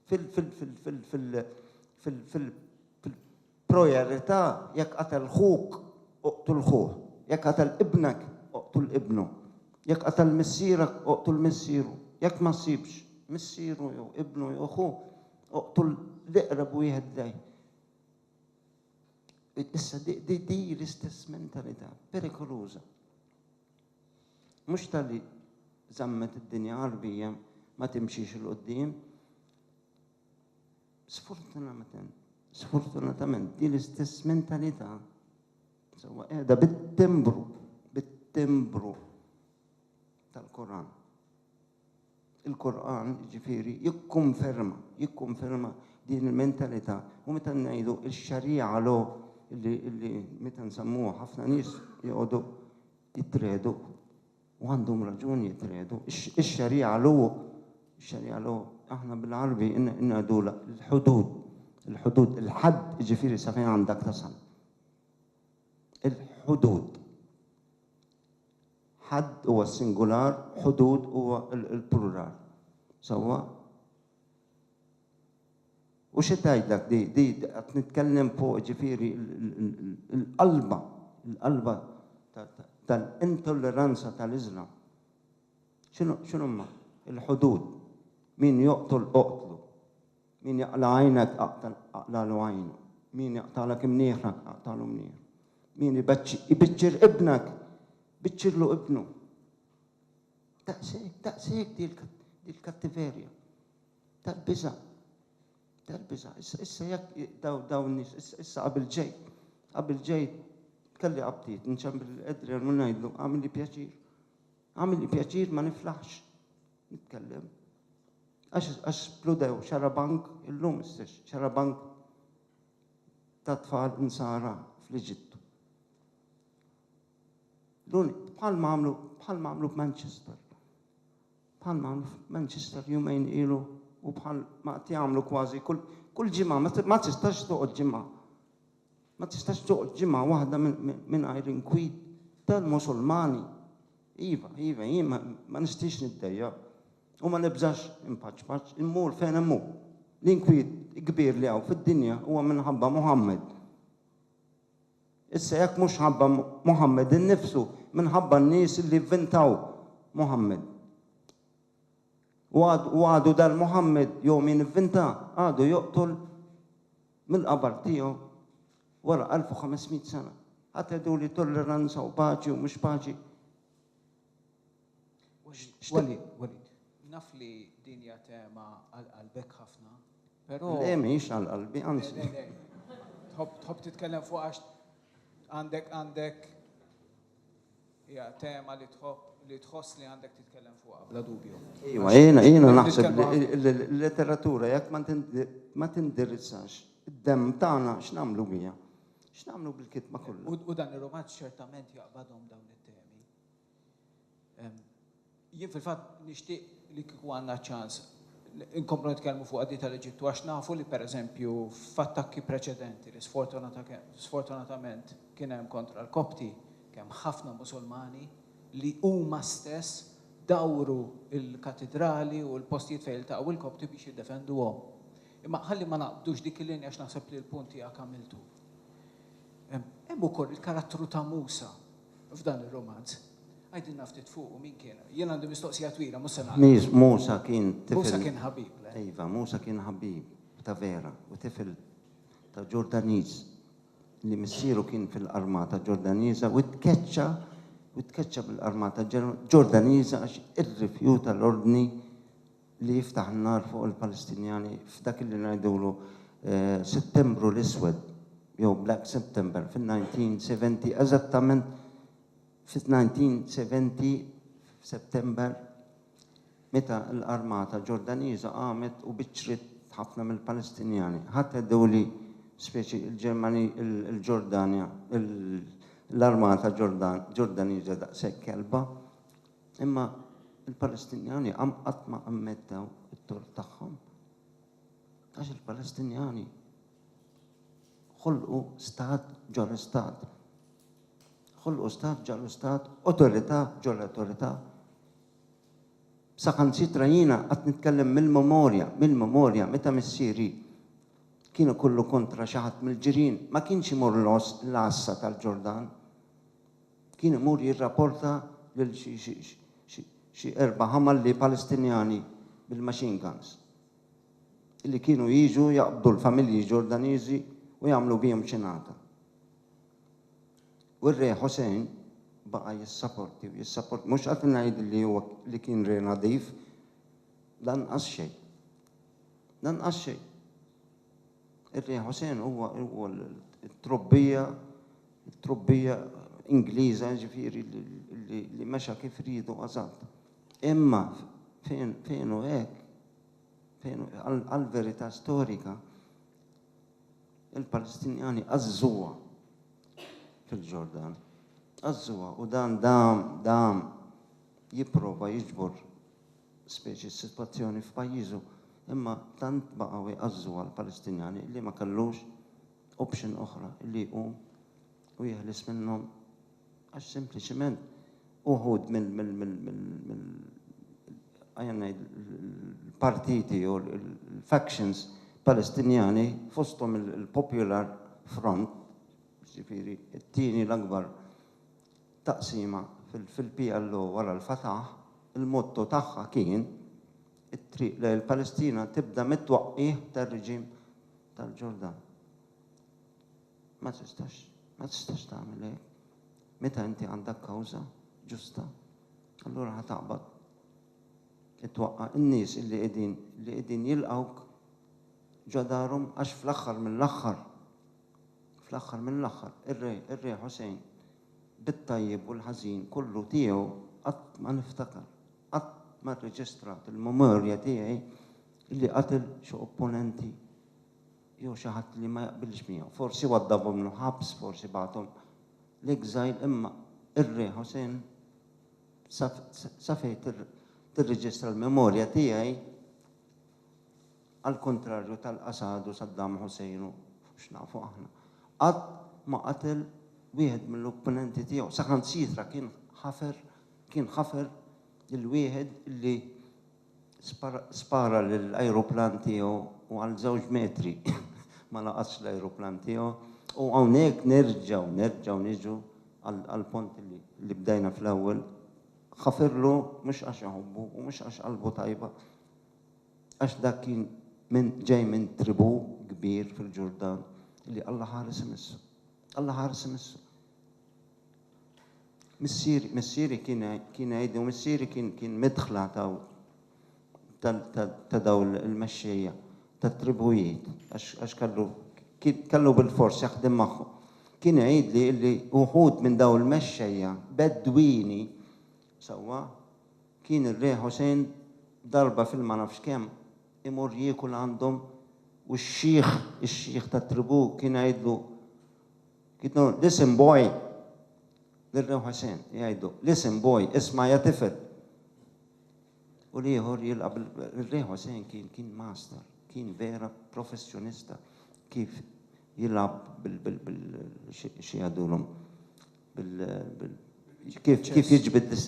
fil-projarità jekk qatel ħuk, oqtul ħuh, jekk qatel ibnek, oqtul ibnu, jekk qatel missierek, oqtul missieru, jekk ma ssibx missieru jew ibnu jew ħu, oqtul l-iqreb wieħed lejh. Issa, din hi l-istess mentalità perikoluża. Mhux talli żammet id-dinja Għarbija ma timxix 'il quddiem. Sfortunatament, sfortunatament din l-istess mentalità sewwa qiegħda bit-timbru, bit-timbru tal-Koran. Il-Qur'an, jiġifieri, jikkonferma, jikkonferma din il-mentalità u meta ngħidu x-xarija law li, li meta nsemmuha ħafna nies joqogħdu jitredu u għandhom raġun jitredu. Ix-xarija law, ix-xarija law aħna bil-Għarbi ngħidulha l-ħudud, il-ħudud, il-ħadd jiġifieri sa fejn għandek tasal. Il-ħudud. Ħadd huwa s-singular, ħudud huwa l-plural. Sewwa? U xi tgħidlek di, di qed nitkellem fuq ġifieri l-qalba, l-qalba tal-intolleranza tal-Iżlam. X'inhuma? Il-ħudud. Min joqtol oqtlu. Min jaqla' għajnek aqlagħlu għajnu, min jaqtagħlek imnieħrek aqtagħlu mnieħru, min ibiċċir ibnek biċċirlu ibnu. Daqshekk, daqshekk di l-kattiverja tal-biża', tal-biża'. Issa jekk dawn nies issa qabel ġej, qabel ġej kelli qabdiet nċempel Adrian u ngħidlu għamilli pjaċir. Għamilli pjaċir ma niflaħx. Jitkellem. Għax għax spludew xarabank illum s-sex xarabank ta' tfal insara fl-Eġittu. Dun bħal mamlu bħal mamlu f'Manchester. Bħal mamlu f'Manchester jumejn ilu u bħal ma qed jagħmlu kważi kull kull ġimgħa ma tistax toqgħod ġimgħa Ma tistax toqgħod ġimgħa waħda mingħajr inkwit tal-Musulmani. Iva, iva, jien ma nistiex niddejjaq u ma nibżax inpaċpaċ, immur fejn imur. L-inkwiet kbir li hawn fid-dinja huwa minħabba Muħammad. Issa jekk mhux ħabba Muħammad innifsu, minħabba n-nies li vvintaw Muħammad. U għadu dal Muhammad jew min ivvinta għadu joqtol mill-qabar tiegħu wara elf u ħames mitt sena. Ħa tgħidu li tolleranza u paċi u mhux paċi. Walid, Walid, naf li din hija tema għal qalbek ħafna, però. Le mhix għal qalbi, anzi. Tħobb titkellem fuq għax għandek għandek Hija tema li tħobb li tħoss li għandek titkellem fuqha bla dubju. Iva, jiena jiena naħseb li l-letteratura jekk ma tindirizzax id-demm tagħna x'nagħmlu biha? X'nagħmlu bil-kitba kollha? U dan ir-rumanz ċertament jaqbadhom dawn it-temi. Jien fil-fatt nixtieq li kieku għandna ċ-ċans inkomplu nitkellmu fuqha di tal-Eġittu għax nafu li pereżempju f'attakki preċedenti li sfortunatament kien hemm kontra l-Kopti, kemm ħafna Musulmani li huma stess dawru l-katidrali u l-postijiet fejn iltaqgħu l-Kopti biex jiddefenduhom. Imma ħalli ma naqbdux dik il-linja għax naħseb li l-punt tiegħek għamiltu. Hemm ukoll il-karattru ta' Musa. f'dan ir-rumanz. Għidilna ftit fuqu, min kien? Jien għandi mistoqsija twila, mhux se nagħlaq. Musa kien tifel. Musa kien ħabib, le? Iva, Musa kien ħabib ta' vera u tifel ta' Ġordaniż li missieru kien fil-armata Ġordaniża u tkeċċa u tkeċċa bil-armata Ġordaniża għax irrifjuta l-ordni li jiftaħ n-nar fuq il-Palestinjani f'dak li ngħidulu Settembru l-Iswed jew Black September fin-1970 eżattament fis-1970 f'Settembr meta l-armata Ġordaniża qamet u biċċriet ħafna mill-Palestinjani. Ħadd għeddew li speċi l-Ġermani l-Ġordanja l-armata Ġordaniża daqshekk kelba. Imma l-Palestinjani qatt ma ammettew it-tort tagħhom. Għax il-Palestinjani ħolqu stat ġo l-istat. Ħolqu stat ġo l-istat, awtorità ġo l-awtorità. Saħansitra jiena qatt nitkellem mill-memorja, mill-memorja meta missieri kienu kollu kontra xi ħadd mill-ġirien, ma kienx imur l-oss l-għassa tal-Ġordan. kien imur jirrapporta lil xi erba' ħamalli Palestinjani bil-machine guns li kienu jiġu jaqbdu l-familji Ġordaniżi u jagħmlu bihom xinata. U r-Re Hossein baqa' jissaporti u jissaporti. Mhux qed ngħid li huwa li kien re nadif, lanqas xejn. Lanqas xejn. Ir-Re Hossein huwa t-trobbija it-trubbija Ingliża jiġifieri li mexa kif riedu eżatt. Imma fejn fejn hu hekk fejn għall-verità storika il-Palestinjani għażżuha fil-Ġordan. Għażżuha u dan dam dam jipprova jiġbor speċi s-sitwazzjoni f'pajjiżu imma tant baqgħu jgħażżuha l-Palestinjani li ma kellux option oħra illi jqum u jeħles minnhom għax sempliċiment uħud mill mill ejja ngħid il-partiti jew il-factions Palestinjani fosthom il-Popular Front, jiġifieri t-tieni l-akbar taqsima fil-PLO wara l-Fatah, il-motto tagħha kien It-triq lejn il-Palestina tibda mit-twaqqigħ tar-reġim tal-Ġordan. Ma tistax, ma tistax tagħmel hekk. Meta inti għandek kawża ġusta, allura ħa taqbad it-twaqqa n-nies li qegħdin li qegħdin jilqgħuk ġodarhom għax fl-aħħar mill-aħħar fl-aħħar mill-aħħar ir-re ir-re Ħusejn bit-tajjeb u l-ħażin kollu tiegħu qatt ma niftakar. Qatt ma rreġistrat il-memorja tiegħi li qatel xi opponenti jew xi ħadd li ma jaqbilx miegħu. Forsi waddabhom l-ħabs, forsi bagħathom l-exile imma r-Re Hussein sa fejn tirreġistra l-memorja tiegħi, għall-kuntrarju tal-qasadu Saddam Hussein u, fuq x'nafu aħna, qatt ma qatel wieħed mill-opponenti tiegħu, saħansitra kien ħafer kien ħafer lil wieħed li spara lill-ajruplan tiegħu u għal żewġ metri ma laqatx l-ajruplan tiegħu u hawnhekk nerġgħu nerġgħu niġu għall-punt li bdejna fl-ewwel, ħaferlu mhux għax iħobbu u mhux għax qalbu tajba. Għax dak kien minn ġej minn tribù kbir fil-Ġurdan li Alla ħares imissu. Alla ħares imissu. Missieri, missieri kien kien għidi u missieri kien kien midħla ta' ta' daw il-mexxejja tat-tribujiet għax kellu kellu bil-fors jaħdem magħhom. Kien għidli li uħud minn daw il-mexxejja Bedwini Sewwa, kien ir-Re Ħusein darba fil-ma-nafx-kemm imur jiekul għandhom u x-xiħ, ix-xiħ tat-tribù kien jgħidlu, jgħidlu, Listen boy! Lir-Re Ħusein jgħidlu, Listen boy, isma' ja tifel! U l-ieħor jilqa' bil, ir-Re Ħusein kien, kien master, kien vera professjonista kif jilgħab bil, bil, bil, xi jgħidulhom, Bil, bil, kif, kif jiġbid dis.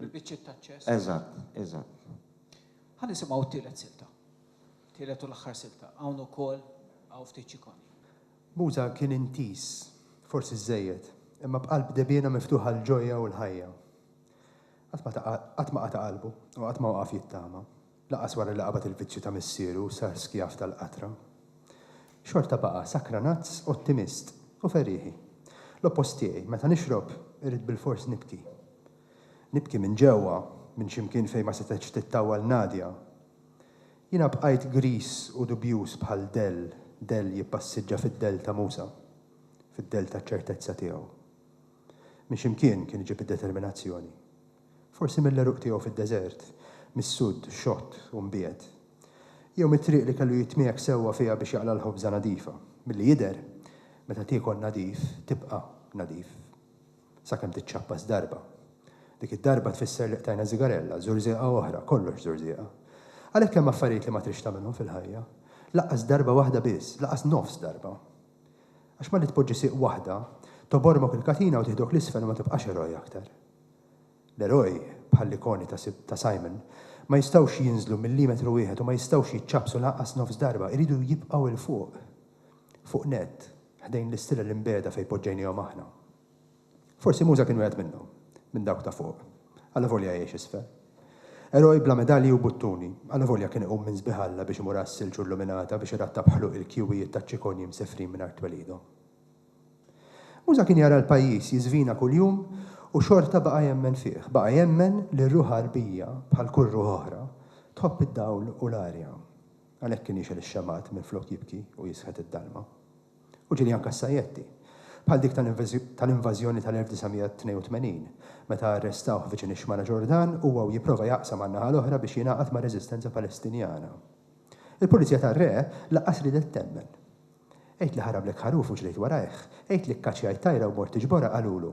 Bil-biċċiet taċ-ċess. Eżatt, eżatt. Ħa nisimgħu t-tielet silta. Tielet u l-aħħar silta. Hawn ukoll hawn ftit ċikoni. Muża kien intiż, forsi żżejjed, imma b'qalb debjiena miftuħa għall-ġojja u l-ħajja. Qatt ma ta, qatt ma qata' qalbu u qatt ma waqaf jittama. Lanqas wara li qabad il-vizzju ta' missieru u sar skjav tal-qatra, xorta baqa' sakranazz, ottimist, u ferieħi. L-oppost tiegħi, meta nixrob, irrid bilfors nibki. Nibki minn ġewwa, minn xi mkien fejn ma setgħetx tittawwal Nadia. Jiena bqajt griż u dubjuż bħal dell, dell jippassiġġa fid-dell ta' Musa, fid-dell taċ-ċertezza tiegħu. Minn xi mkien kien iġib id-determinazzjoni. Forsi mill-għeruq tiegħu fid-deżert, mis-sudd xott u mbiegħed. Jew mit-triq li kellu jitmiegħek sewwa fiha biex jaqla' l-ħobża nadifa. Milli jidher, meta tiekol nadif, tibqa' nadif. Sakemm tiċċappas darba. Dik id-darba tfisser li qtajna żigarella, żurżieqa oħra, kollox żurżieqa. Għalhekk hemm affarijiet li ma tridx tagħmilhom fil-ħajja. Lanqas darba waħda biss, lanqas nofs darba. Għax malli tpoġġi sieq waħda, togħbormok il-katina u tiħdok 'l isfel u ma tibqax eroj aktar. L-eroj, bħall-ikoni ta' Simon, ma jistgħux jinżlu millimetru wieħed u ma jistgħux jiċċappsu lanqas nofs darba, iridu jibqgħu 'l fuq, fuq nett, ħdejn l-istilel imbiegħda fejn poġġejniehom aħna. Forsi Muża kien wieħed minnhom, minn dawk ta' fuq, allavolja jgħix isfel. Eroj bla medalji u buttuni, allavolja kien iqum minn sbiħ Alla biex imur għas-silġ u l-luminata biex irattab ħluq il-kjuwijiet taċ-ċikonji msefrin mingħajr twelidhom. Muża kien jara l-pajjiż jiżvina kuljum u xorta baqa' jemmen fih. Baqa' jemmen li r-ruħ Għarbija, bħal kull ruħ oħra, tħobb id-dawl u l-arja. Għalhekk kien jixgħel ix-xemgħat minflok jibki u jisħet id-dalma. U Ġiljan Cassajetti, bħal dik tal-invażjoni tal-1982, meta arrestawh viċin ix-xmara Ġordan, huwa u jipprova jaqsam għan-naħa l-oħra biex jingħaqad mar-reżistenza Palestinjana. Il-Pulizija tar-Re laqqas riedet temmen. Għid li ħarablek ħaruf u ġrejt warajh, għid li kkaċċjajt tajra u mort tiġborha qalulu.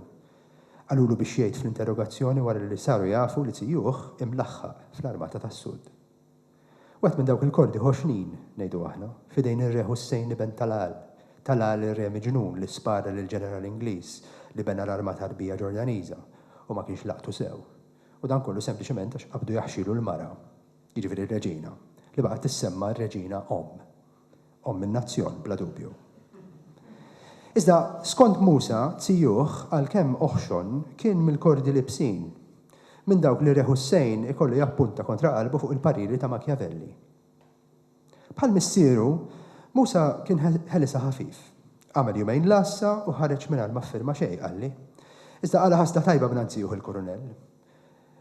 Qalulu biex jgħid fl-interrogazzjoni wara li saru jafu li zijuh imlaħħaq fl-armata tas-Sud. Wieħed minn dawk il-kordi ħoxnin, ngħidu aħna, f'idejn ir-Re Ħussejn Iben Talal, Talal ir-Re miġnun li spara lill-ġeneral Ingliż li bena l-armata Għarbija Ġordaniża u ma kienx laqtu sew. U dan kollu sempliċement għax qabdu jaħxilu l-mara, jiġifieri r-Reġina, li baqgħet tissemma r-Reġina Omm. Omm in-nazzjon, bla dubju. Iżda, skond Musa, zijuh, għalkemm oħxon, kien mill-kordi l-ibsin. Minn dawk li re Hussein ikollu jappunta kontra qalbu fuq il-pariri ta' Machiavelli. Bħal missieru, Musa kien ħelisha ħafif. Għamel jumejn l-għassa u ħareġ mingħajr ma ffirma xejn, qalli. Iżda qala' ħasda tajba mingħand zijuh il-kurunell.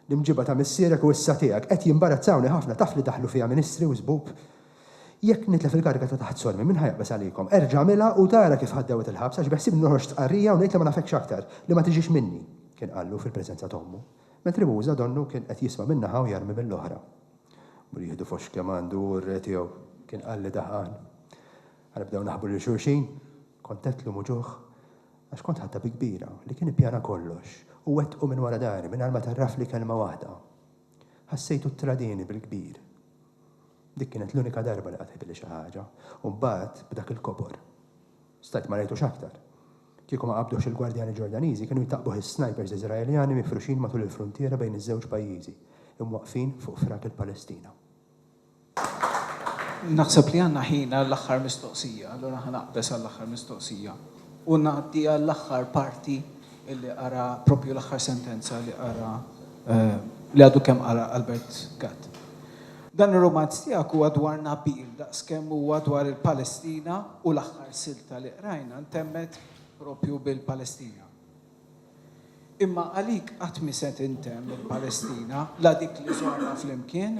L-imġiba ta' missierek u issa tiegħek qed jimbarazzawni ħafna, taf li daħlu fiha ministri u żbub? Jekk nitlef il-kariga ta' taħt sormi, min ħa jaqbeż għalikom? Erġa' għamilha u tara kif ħa dewwet il-ħabs għax beħsiebni noħroġ stqarrija u ngħid li ma nafekx aktar, li ma tiġix minni! kien qallu fil-preżenza ta' ommu, mentri Muża donnu kien qed jisma' minn naħa u jarmi mill-oħra. Mur jieħdu foxx kemm għandu hu r-re tiegħu! kien qalli daħqan. Ħa nibdew naħbu lil xulxin? Kont għedt lum u ġuħ għax kont ħadtha bi kbira li kien ippjana kollox u wettqu minn wara dari mingħajr ma tgħarrafli kelma waħda. Ħassejtu ttradieni bil-kbir. Dik kienet l-unika darba li qatt għidilli xi ħaġa. U mbagħad b'dak il-kobor. Stajt ma rajtux aktar. Kieku ma qabduhx il-gwardjani Ġordaniżi kienu jtaqqbuh is-snajpers Iżraeljani mifruxin matul il-fruntiera bejn iż-żewġ pajjiżi, imwaqqfin fuq frak il-Palestina. Naħseb li għandna ħin għall-aħħar mistoqsija, allura ħa naqbeż għall-aħħar mistoqsija u ngħaddi għall-aħħar parti li qara proprju l-aħħar sentenza li qara li għadu kemm qara Albert Gatt. Dan ir-rumanz tiegħek huwa dwar Nabil daqskemm huwa dwar il-Palestina u l-aħħar silta li qrajna ntemmet proprju bil-Palestina. Imma għalik qatt mhi se tintemm il-Palestina, la dik li żorna flimkien,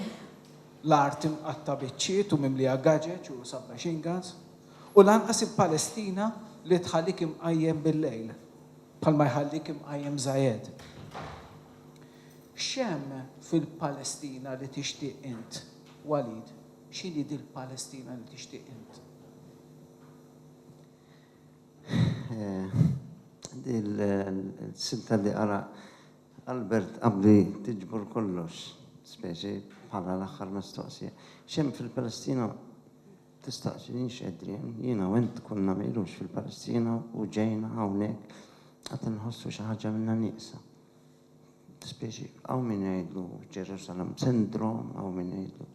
l-art imqatta' biċċiet u mimlija gaġeġ u sub-machine guns, u lanqas il-Palestina li tħallik imqajjem bil-lejl, bħalma jħallik imqajjem Zayed. X'hemm fil-Palestina li tixtieq int, Walid? X'inhi dil-Palestina li tixtieq int? Il-silta li qara Albert qabli tiġbor kollox, speċi bħala l-aħħar mistoqsija. X'hemm fil-Palestina? Tistaqsi lili x'qedrien. Jiena u int konna mqirux fil-Palestina u ġejna hawnhekk għad inħossu xi ħaġa minna nieqsa. Speċi hawn min jgħidlu Jerusalem Syndrome, hawn min jgħidlu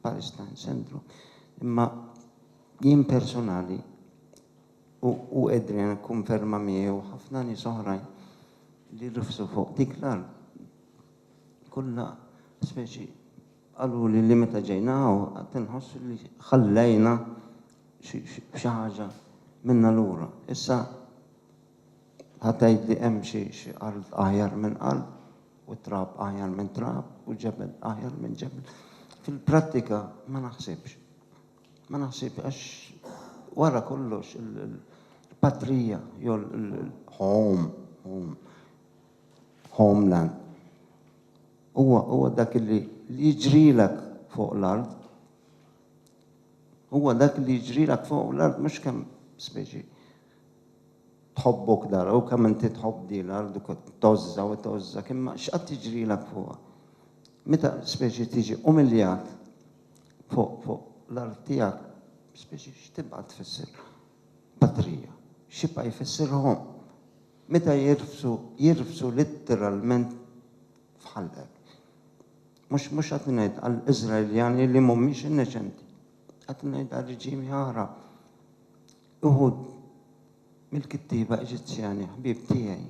Palestine Syndrome. Imma Jien personali, u u Adrian kkunferma miegħi u ħafna nies oħrajn li rifsu fuq dik l-art kollha speċi qaluli li meta ġejna hawn qatt inħossu li ħallejna xi xi ħaġa minna lura. Issa ħa tgħid li hemm xi xi art aħjar minn art u trab aħjar minn trab u ġebel aħjar minn ġebel. Fil-prattika ma naħsibx. Ma naħsibx għax wara kollox il-patrija jew il-home, home, homeland huwa huwa dak li jiġrilek fuq l-art. Huwa dak li jiġrilek fuq l-art mhux kemm speċi tħobbok dar u kemm inti tħobb din l-art u tgħożżha u tgħożżha kemm x'qatt jiġrilek fuqha. Meta speċi tiġi umiljat Fuq, fuq l-art tiegħek, spiex x'tibqa' tfisser? Patrija. X'jibqa' jfisser Hom? Meta jirfsu, jirfsu litteralment f'ħalqek. Mhux, mhux qed ngħid għall-Iżraeljani li mhumiex inneċenti. Qed ngħid għal reġimi oħra. Uħud mill-kittieba Eġizzjani, ħbieb tiegħi.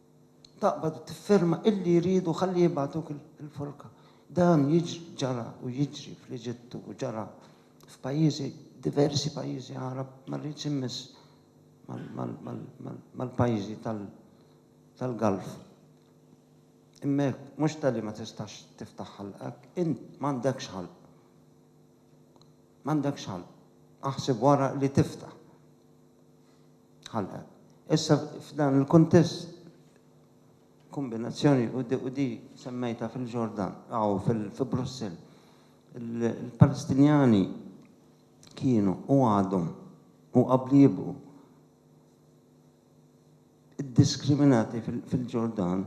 taqbad u tifferma illi jridu ħalli jibgħatuk il-forka. Dan ġara u jiġri fl-Eġittu u ġara f'pajjiżi, diversi pajjiżi Għarab, ma rridx immiss mal-pajjiżi tal-Gulf. Imma hekk, mhux talli ma tistax tiftaħ ħalqek, int m'għandekx ħalq. M'għandekx ħalq. Aħseb wara li tiftaħ. ħalqet. Issa f'dan il-kuntest kombinazzjoni u di semmejtha fil-Ġordan aw fi Brussell. Il-Palestinjani kienu u għadhom u qabli jibqgħu iddiskriminati fil-Ġordan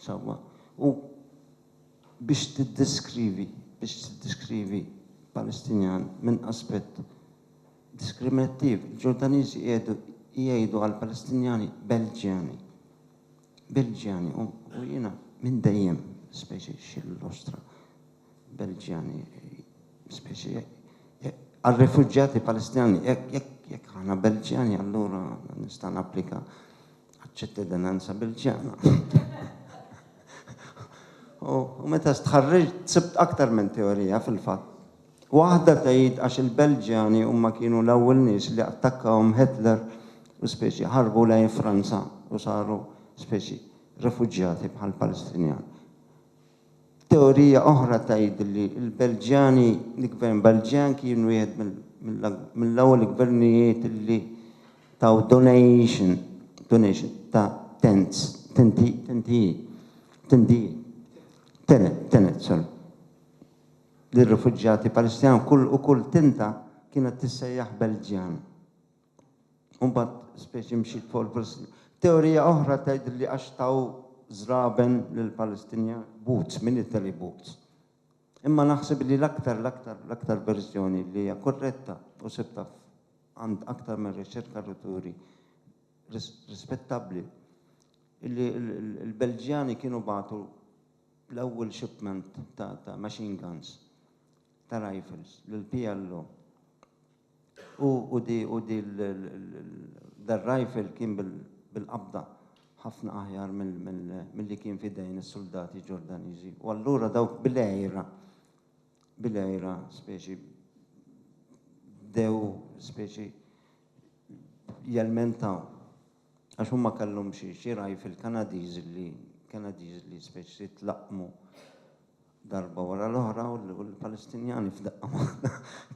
sewwa u biex tiddeskrivi biex tiddeskrivi Palestinjan minn aspett diskriminattiv, il-Ġordaniżi qiegħdu jgħidu għall-Palestinjani Belġjani, Bilġjani, u jiena minn dejjem, specie xil nostra, Belġjani, specie għar-refuġjati Palestinjani, jekk aħna Belġjani allura nista' napplika għaċ-ċittadinanza Belġjana. U meta stħarriġt sibt aktar minn teorija fil-fatt Waħda tgħid għax il-Belġjani huma kienu l-ewwel nies li attakkahom Hitler u speċi ħarbu lejn Franza u saru speċi refuġjati bħal Palestinjan. Teorija oħra tgħid li l-Belġjani, l-gvern Belġjan kien wieħed mill-ewwel gvernijiet li taw donation, donation, ta' tents, tenti, tentijiet, tendijiet, tenet, tenet, sorry. lir-rifuġjati Palestinjan kull u kull tinta kienet tissejjaħ Belġjan. U mbagħad speċi mxiet fuq il-Palestinjan. Teorija oħra tgħid li għax taw żraben lill-Palestinjan boots, min Italy boots. Imma naħseb li l-aktar l-aktar l-aktar verżjoni li hija korretta u sibta għand aktar minn riċerka li turi rispettabbli li l-Belġjani kienu bagħtu l-ewwel shipment ta' machine guns, ta' rifles, lill-PLO. U dar-rifle kien bil-qabda ħafna aħjar milli kien f'idejn is-suldati Ġordaniżi. U allura dawk bil-għira, bil-għira speċi bdew speċi jelmentaw. Għax huma kellhom xi xi ragħaj fil-Kanadiżi li Kanadiżi li speċi jitlaqqmu darba wara l-oħra u l-Palestinjani f'daqqa waħda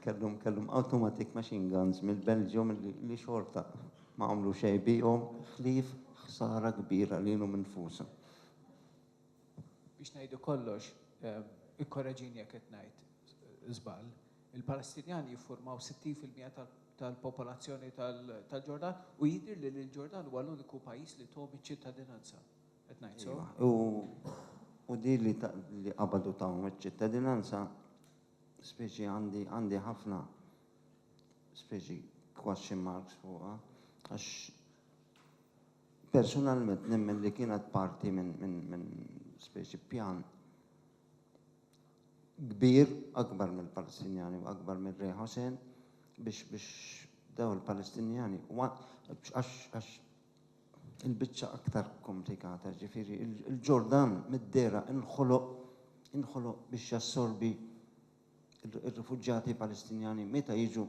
kellhom kellhom automatic machine guns mill-Belġium li xorta ma għamlu xejn bihom ħlief ħsara kbira lilhom infushom. Biex ngħidu kollox, ikkoreġini jekk qed ngħid żball, Il-Palestinjani jiffurmaw 60 fil-mija tal-popolazzjoni tal-Ġordan u jidhir li l-Ġordan huwa l-uniku pajjiż li thom iċ-ċittadinanza. Qed ngħid sew? Ejwa, u di li qabadu tahom iċ-ċittadinanza, speċi għandi ħafna speċi question marks fuqha għax personalment nemmen li kienet parti minn speċi pjan kbir, akbar mill-Palestinjani u akbar minn Re Hossein, biex biex daw il-Palestinjani għax għax il-biċċa aktar komplikata, jiġifieri il-Ġordan mid-dehra inħoloq inħoloq biex jassorbi ir-rifuġjati Palestinjani meta jiġu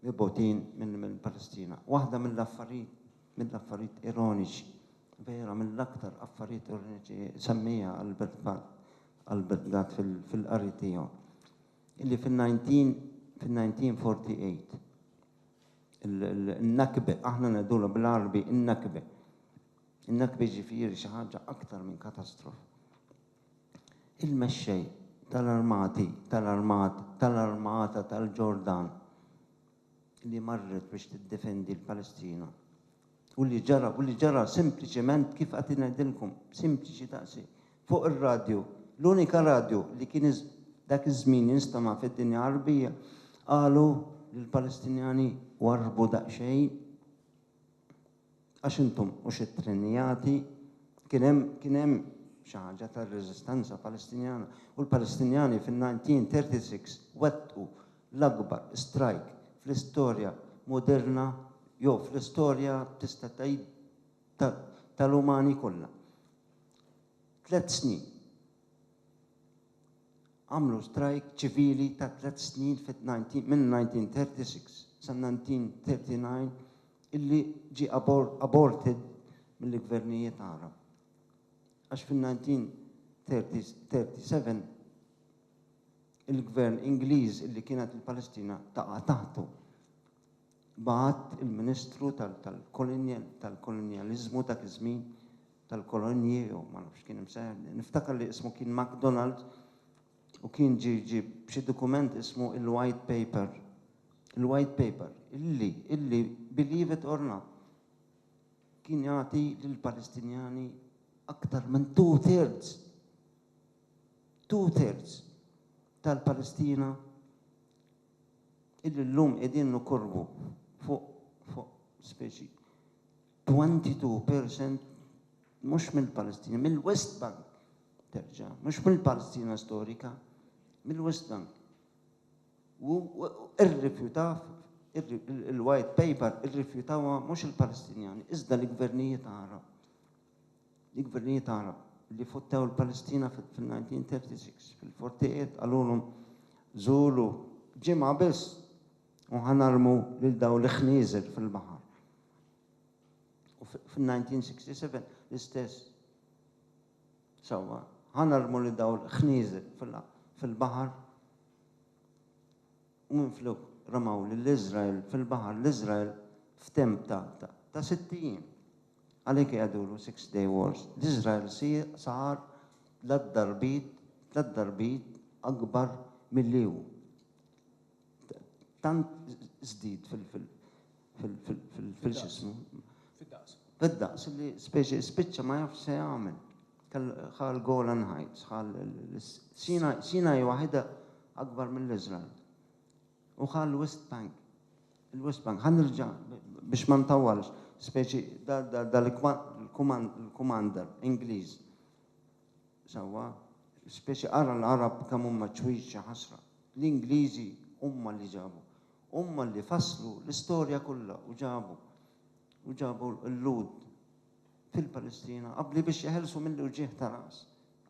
mibotin mill-Palestina. Waħda mill-affarijiet mill-affarijiet ironiċi vera mill-aktar affarijiet ironiċi semmija Albert Barr għall-bidla fil-qari tiegħu, illi fin-1948 in-Nakbe, aħna ngħidulha bil-Għarbi in-Nakbe, in-Nakbe jiġifieri xi ħaġa aktar minn katastrof, il-mexxej tal-armati, tal-armat, tal-armata tal-Ġordan li marret biex tiddefendi l-Palestina, U li ġara, u li ġara sempliċement kif qagħdt ingħidilkom, sempliċi daqshekk. Fuq ir-radju, l-unika radju li kien dak iż-żmien jinstema' fid-dinja Għarbija, qalu li l-Palestinjani warrbu daqsxejn għax intom hux ittrenjati, kien hemm kien hemm xi ħaġa tar-reżistenza Palestinjana u l-Palestinjani fin-1936 wettqu l-akbar strajk fl-istorja moderna jew fl-istorja tista' tgħid tal-umani kollha. Tliet snin. Għamlu strajk ċivili ta' tliet snin mill-1936 sa 1939 illi ġie aborted mill-gvernijiet Għarab. Għax fin-1937 il-Gvern Ingliż li kienet il-Palestina taqa' taħtu bagħat il-Ministru tal-Kolonjaliżmu dak iż-żmien, tal-Kolonji jew ma nafx kien imsejjaħ, niftakar li ismu kien MacDonald u kien ġie ġie b'xi dokument ismu il-White Paper. Il-White Paper illi illi believe it or not kien jagħti lill-Palestinjani aktar minn two thirds two-thirds tal-Palestina illi llum qegħdin nokorbu fuq fuq speċi 22 percent mhux mill-Palestina, mill-West Bank terġa', mhux mill-Palestina storika, mill-West Bank. U irrifjutaw il-white paper irrifjutawha mhux il-Palestinjani iżda l-gvernijiet Għarab. li gvernijiet Għarab li fottew il-Palestina fil-1936 fil-fortijiet qalulhom żuru ġimgħa biss u ħanarmu lil daw l-ħnieżer fil-baħar. U fil-1967 l-istess sewwa ħanarmu lil daw l-ħnieżer fil-baħar u minflok ramaw lill-Iżrael fil-baħar l-Iżrael f'temp ta' 60 Għalhekk jgħidulu Six Day Wars. L-Iżrael sar tliet darbit, tliet darbit akbar milli hu. Tant żdied fil, fil, fil, fil, fil, fil x'ismu. Fid-daqs. Fid-daqs li speċi spiċċa ma jafx se jagħmel. Ħa l-Golan Heights, ħa l, Sinai waħidha akbar mill-Iżrael. U ħa l-West Bank. Il-West Bank. Ħa nirġa' biex ma ntawwalx. Speċi dal-kumander Ingliż. Sewwa. Speċi ara l-Għarab kemm huma ċwieġ xi ħasra. L-Ingliżi huma li ġabu. Huma li fasslu l-istorja kollha u ġabu u ġabu l-Lhud fil-Palestina qabbli biex jeħelsu mill-uġigħ ta' ras.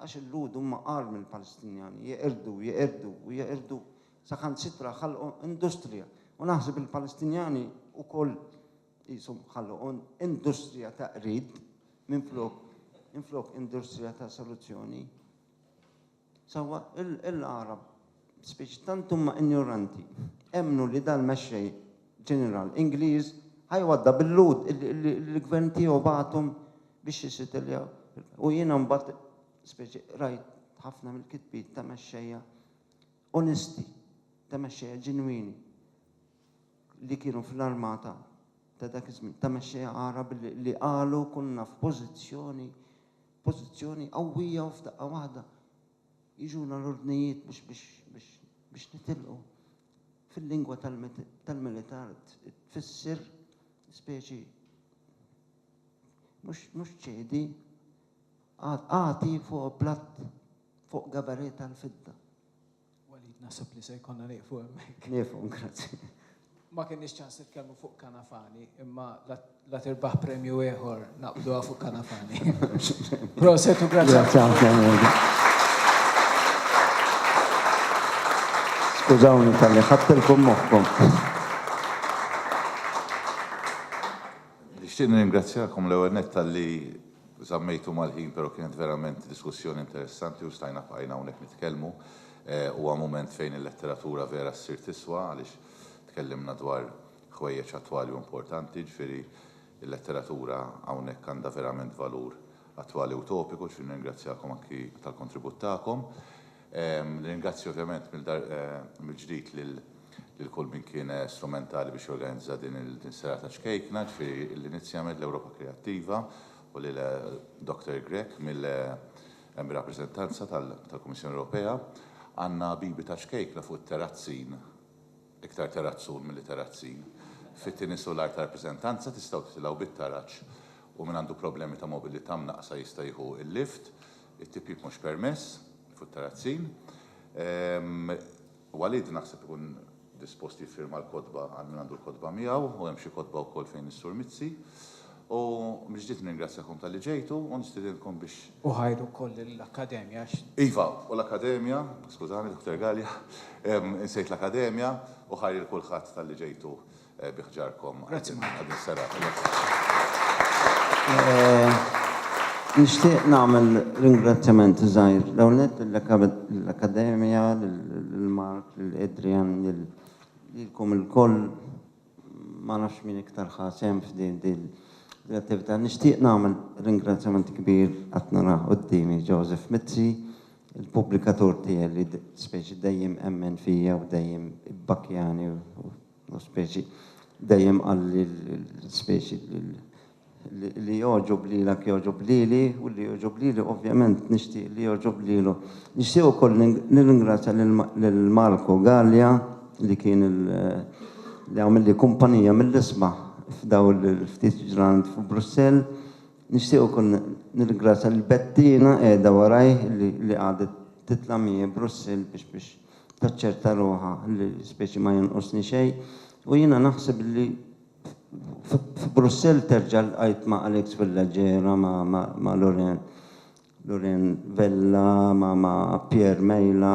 Għax il-Lhud huma agħar mill-Palestinjani, jeqirdu, jeqirdu u jeqirdu saħansitra ħalqu industrija. U naħseb il-Palestinjani wkoll qishom ħalqu industrija ta' qrid minflok minflok industrija ta' soluzzjoni. Sewwa il-Għarab Spiċċ tant huma injoranti, emmnu li dan mexxej ġeneral Ingliż ħa jwaddha bil-Lhud li l-gvern tiegħu bagħathom biex jisitiljaw. U jiena mbagħad speċi rajt ħafna mill-kitbiet ta' mexxejja onesti, ta' mexxejja ġenwini li kienu fl-armata ta' dak iż-żmien, ta' mexxejja Għarab li qalu kunna f'pożizzjoni pożizzjoni qawwija u f'daqqa waħda jiġuna l-ordnijiet biex nitilqu fil-lingwa tal-militar tfisser speċi mhux ċedi, agħti fuq platt fuq gabarè tal-fidda. Walid, naħseb li se jkollna nieqfu hemmhekk. Nieqfu, grazzi. Ma kenniex ċans nitkellmu fuq Canafani, imma la tirbaħ premju ieħor naqbduha fuq Canafani. Proset u grazzi. Grazzi ħafna. Skużawni talli ħadtilkom moħħkom. Nixtieq nirringrazzjakom l-ewwel nett talli żammejtu mal-ħin, però kienet verament diskussjoni interessanti u stajna bqajna hawnhekk nitkellmu. Huwa mument fejn il-letteratura vera ssir tiswa għaliex tkellimna dwar ħwejjeġ attwali u importanti, jiġifieri l-letteratura hawnhekk għandha verament valur attwali u topiku, jiġifieri nirringrazzjakom anki tal-kontribut tagħkom. Nirringrazzja ovvjament mill-ġdid lil kull min kien strumentali biex jorganizza din is-serata ċkejkna, jiġifieri l-Inizjament, l-Ewropa Kreattiva u lil Dr. Grech Hemm rappreżentanza tal-Kummissjoni Ewropea. Għandna habibi ta' ċkejkna fuq it-terrazzin, iktar terrazzun milli terrazzin, fit-tieni sular tar-rappreżentanza, tistgħu titilgħu bit-taraġ u min għandu problemi ta' mobilità mnaqqsa jista' jieħu l-lift, it-tipjip mhux permess fuq it-terrazzin. Walid naħseb ikun dispost jiffirma l-kotba għal min għandu l-kotba miegħu u hemm xi kotba wkoll fejn is-Sur Mizzi. U mill-ġdid nirringrazzjakom talli ġejtu u nistiedinkom biex. U ħajr ukoll lill-Akkademja għax. Iva, u l-Akkademja, skużani Dr. Galea, insejt l-Akkademja, u ħajr lil kulħadd talli ġejtu. bi ħġarkom għal din is-serata. Nixtieq nagħmel ringrazzjamenti żgħir l-ewwel nett lill-Akkademja, lil Mark, lil Adrian, lilkom ilkoll, ma nafx min iktar ħa sehem f'din l-attività. Nixtieq nagħmel ringrazzjament kbir, qed nara quddiemi Joseph Mizzi, il-pubblikatur tiegħi li speċi dejjem emmen fija u dejjem ibbakkjani u L-speċi. Dejjem qalli l-speċi li jogħġob lilek jogħġob lili u li jogħġob lili ovvjament nixtieq li jogħġob lilu. Nixtieq ukoll nirringrazzja lil Marco Galea li kien li għamilli kumpanija mill-isbaħ f'dawn il-ftit ġranet f'Brussell. Nixtieq ukoll nirringrazzja lil Bettina qiegħda warajh li qagħdet titla' miegħi Brussell biex taċċerta ruħha li l-ispeċi ma jonqosni xejn u jiena naħseb li f'Brussell terġa' lqajt ma' Alex Fillaġera, ma' Loren Vella, ma' Pierre Mejla,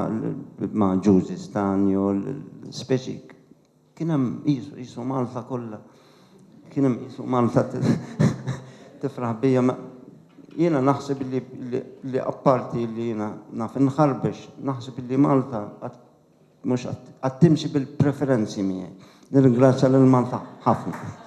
ma' Ġużi Stanjo, l-ispeċi Kien hemm qisu, qisu Malta kollha, kien hemm qisu Malta tifraħ bija. Jiena naħseb li, li apparti li jiena naf inħarbex, naħseb li Malta qatt mhux qatt timxi bil-preferenzi miegħi. Nirringrazzja lil Malta ħafna.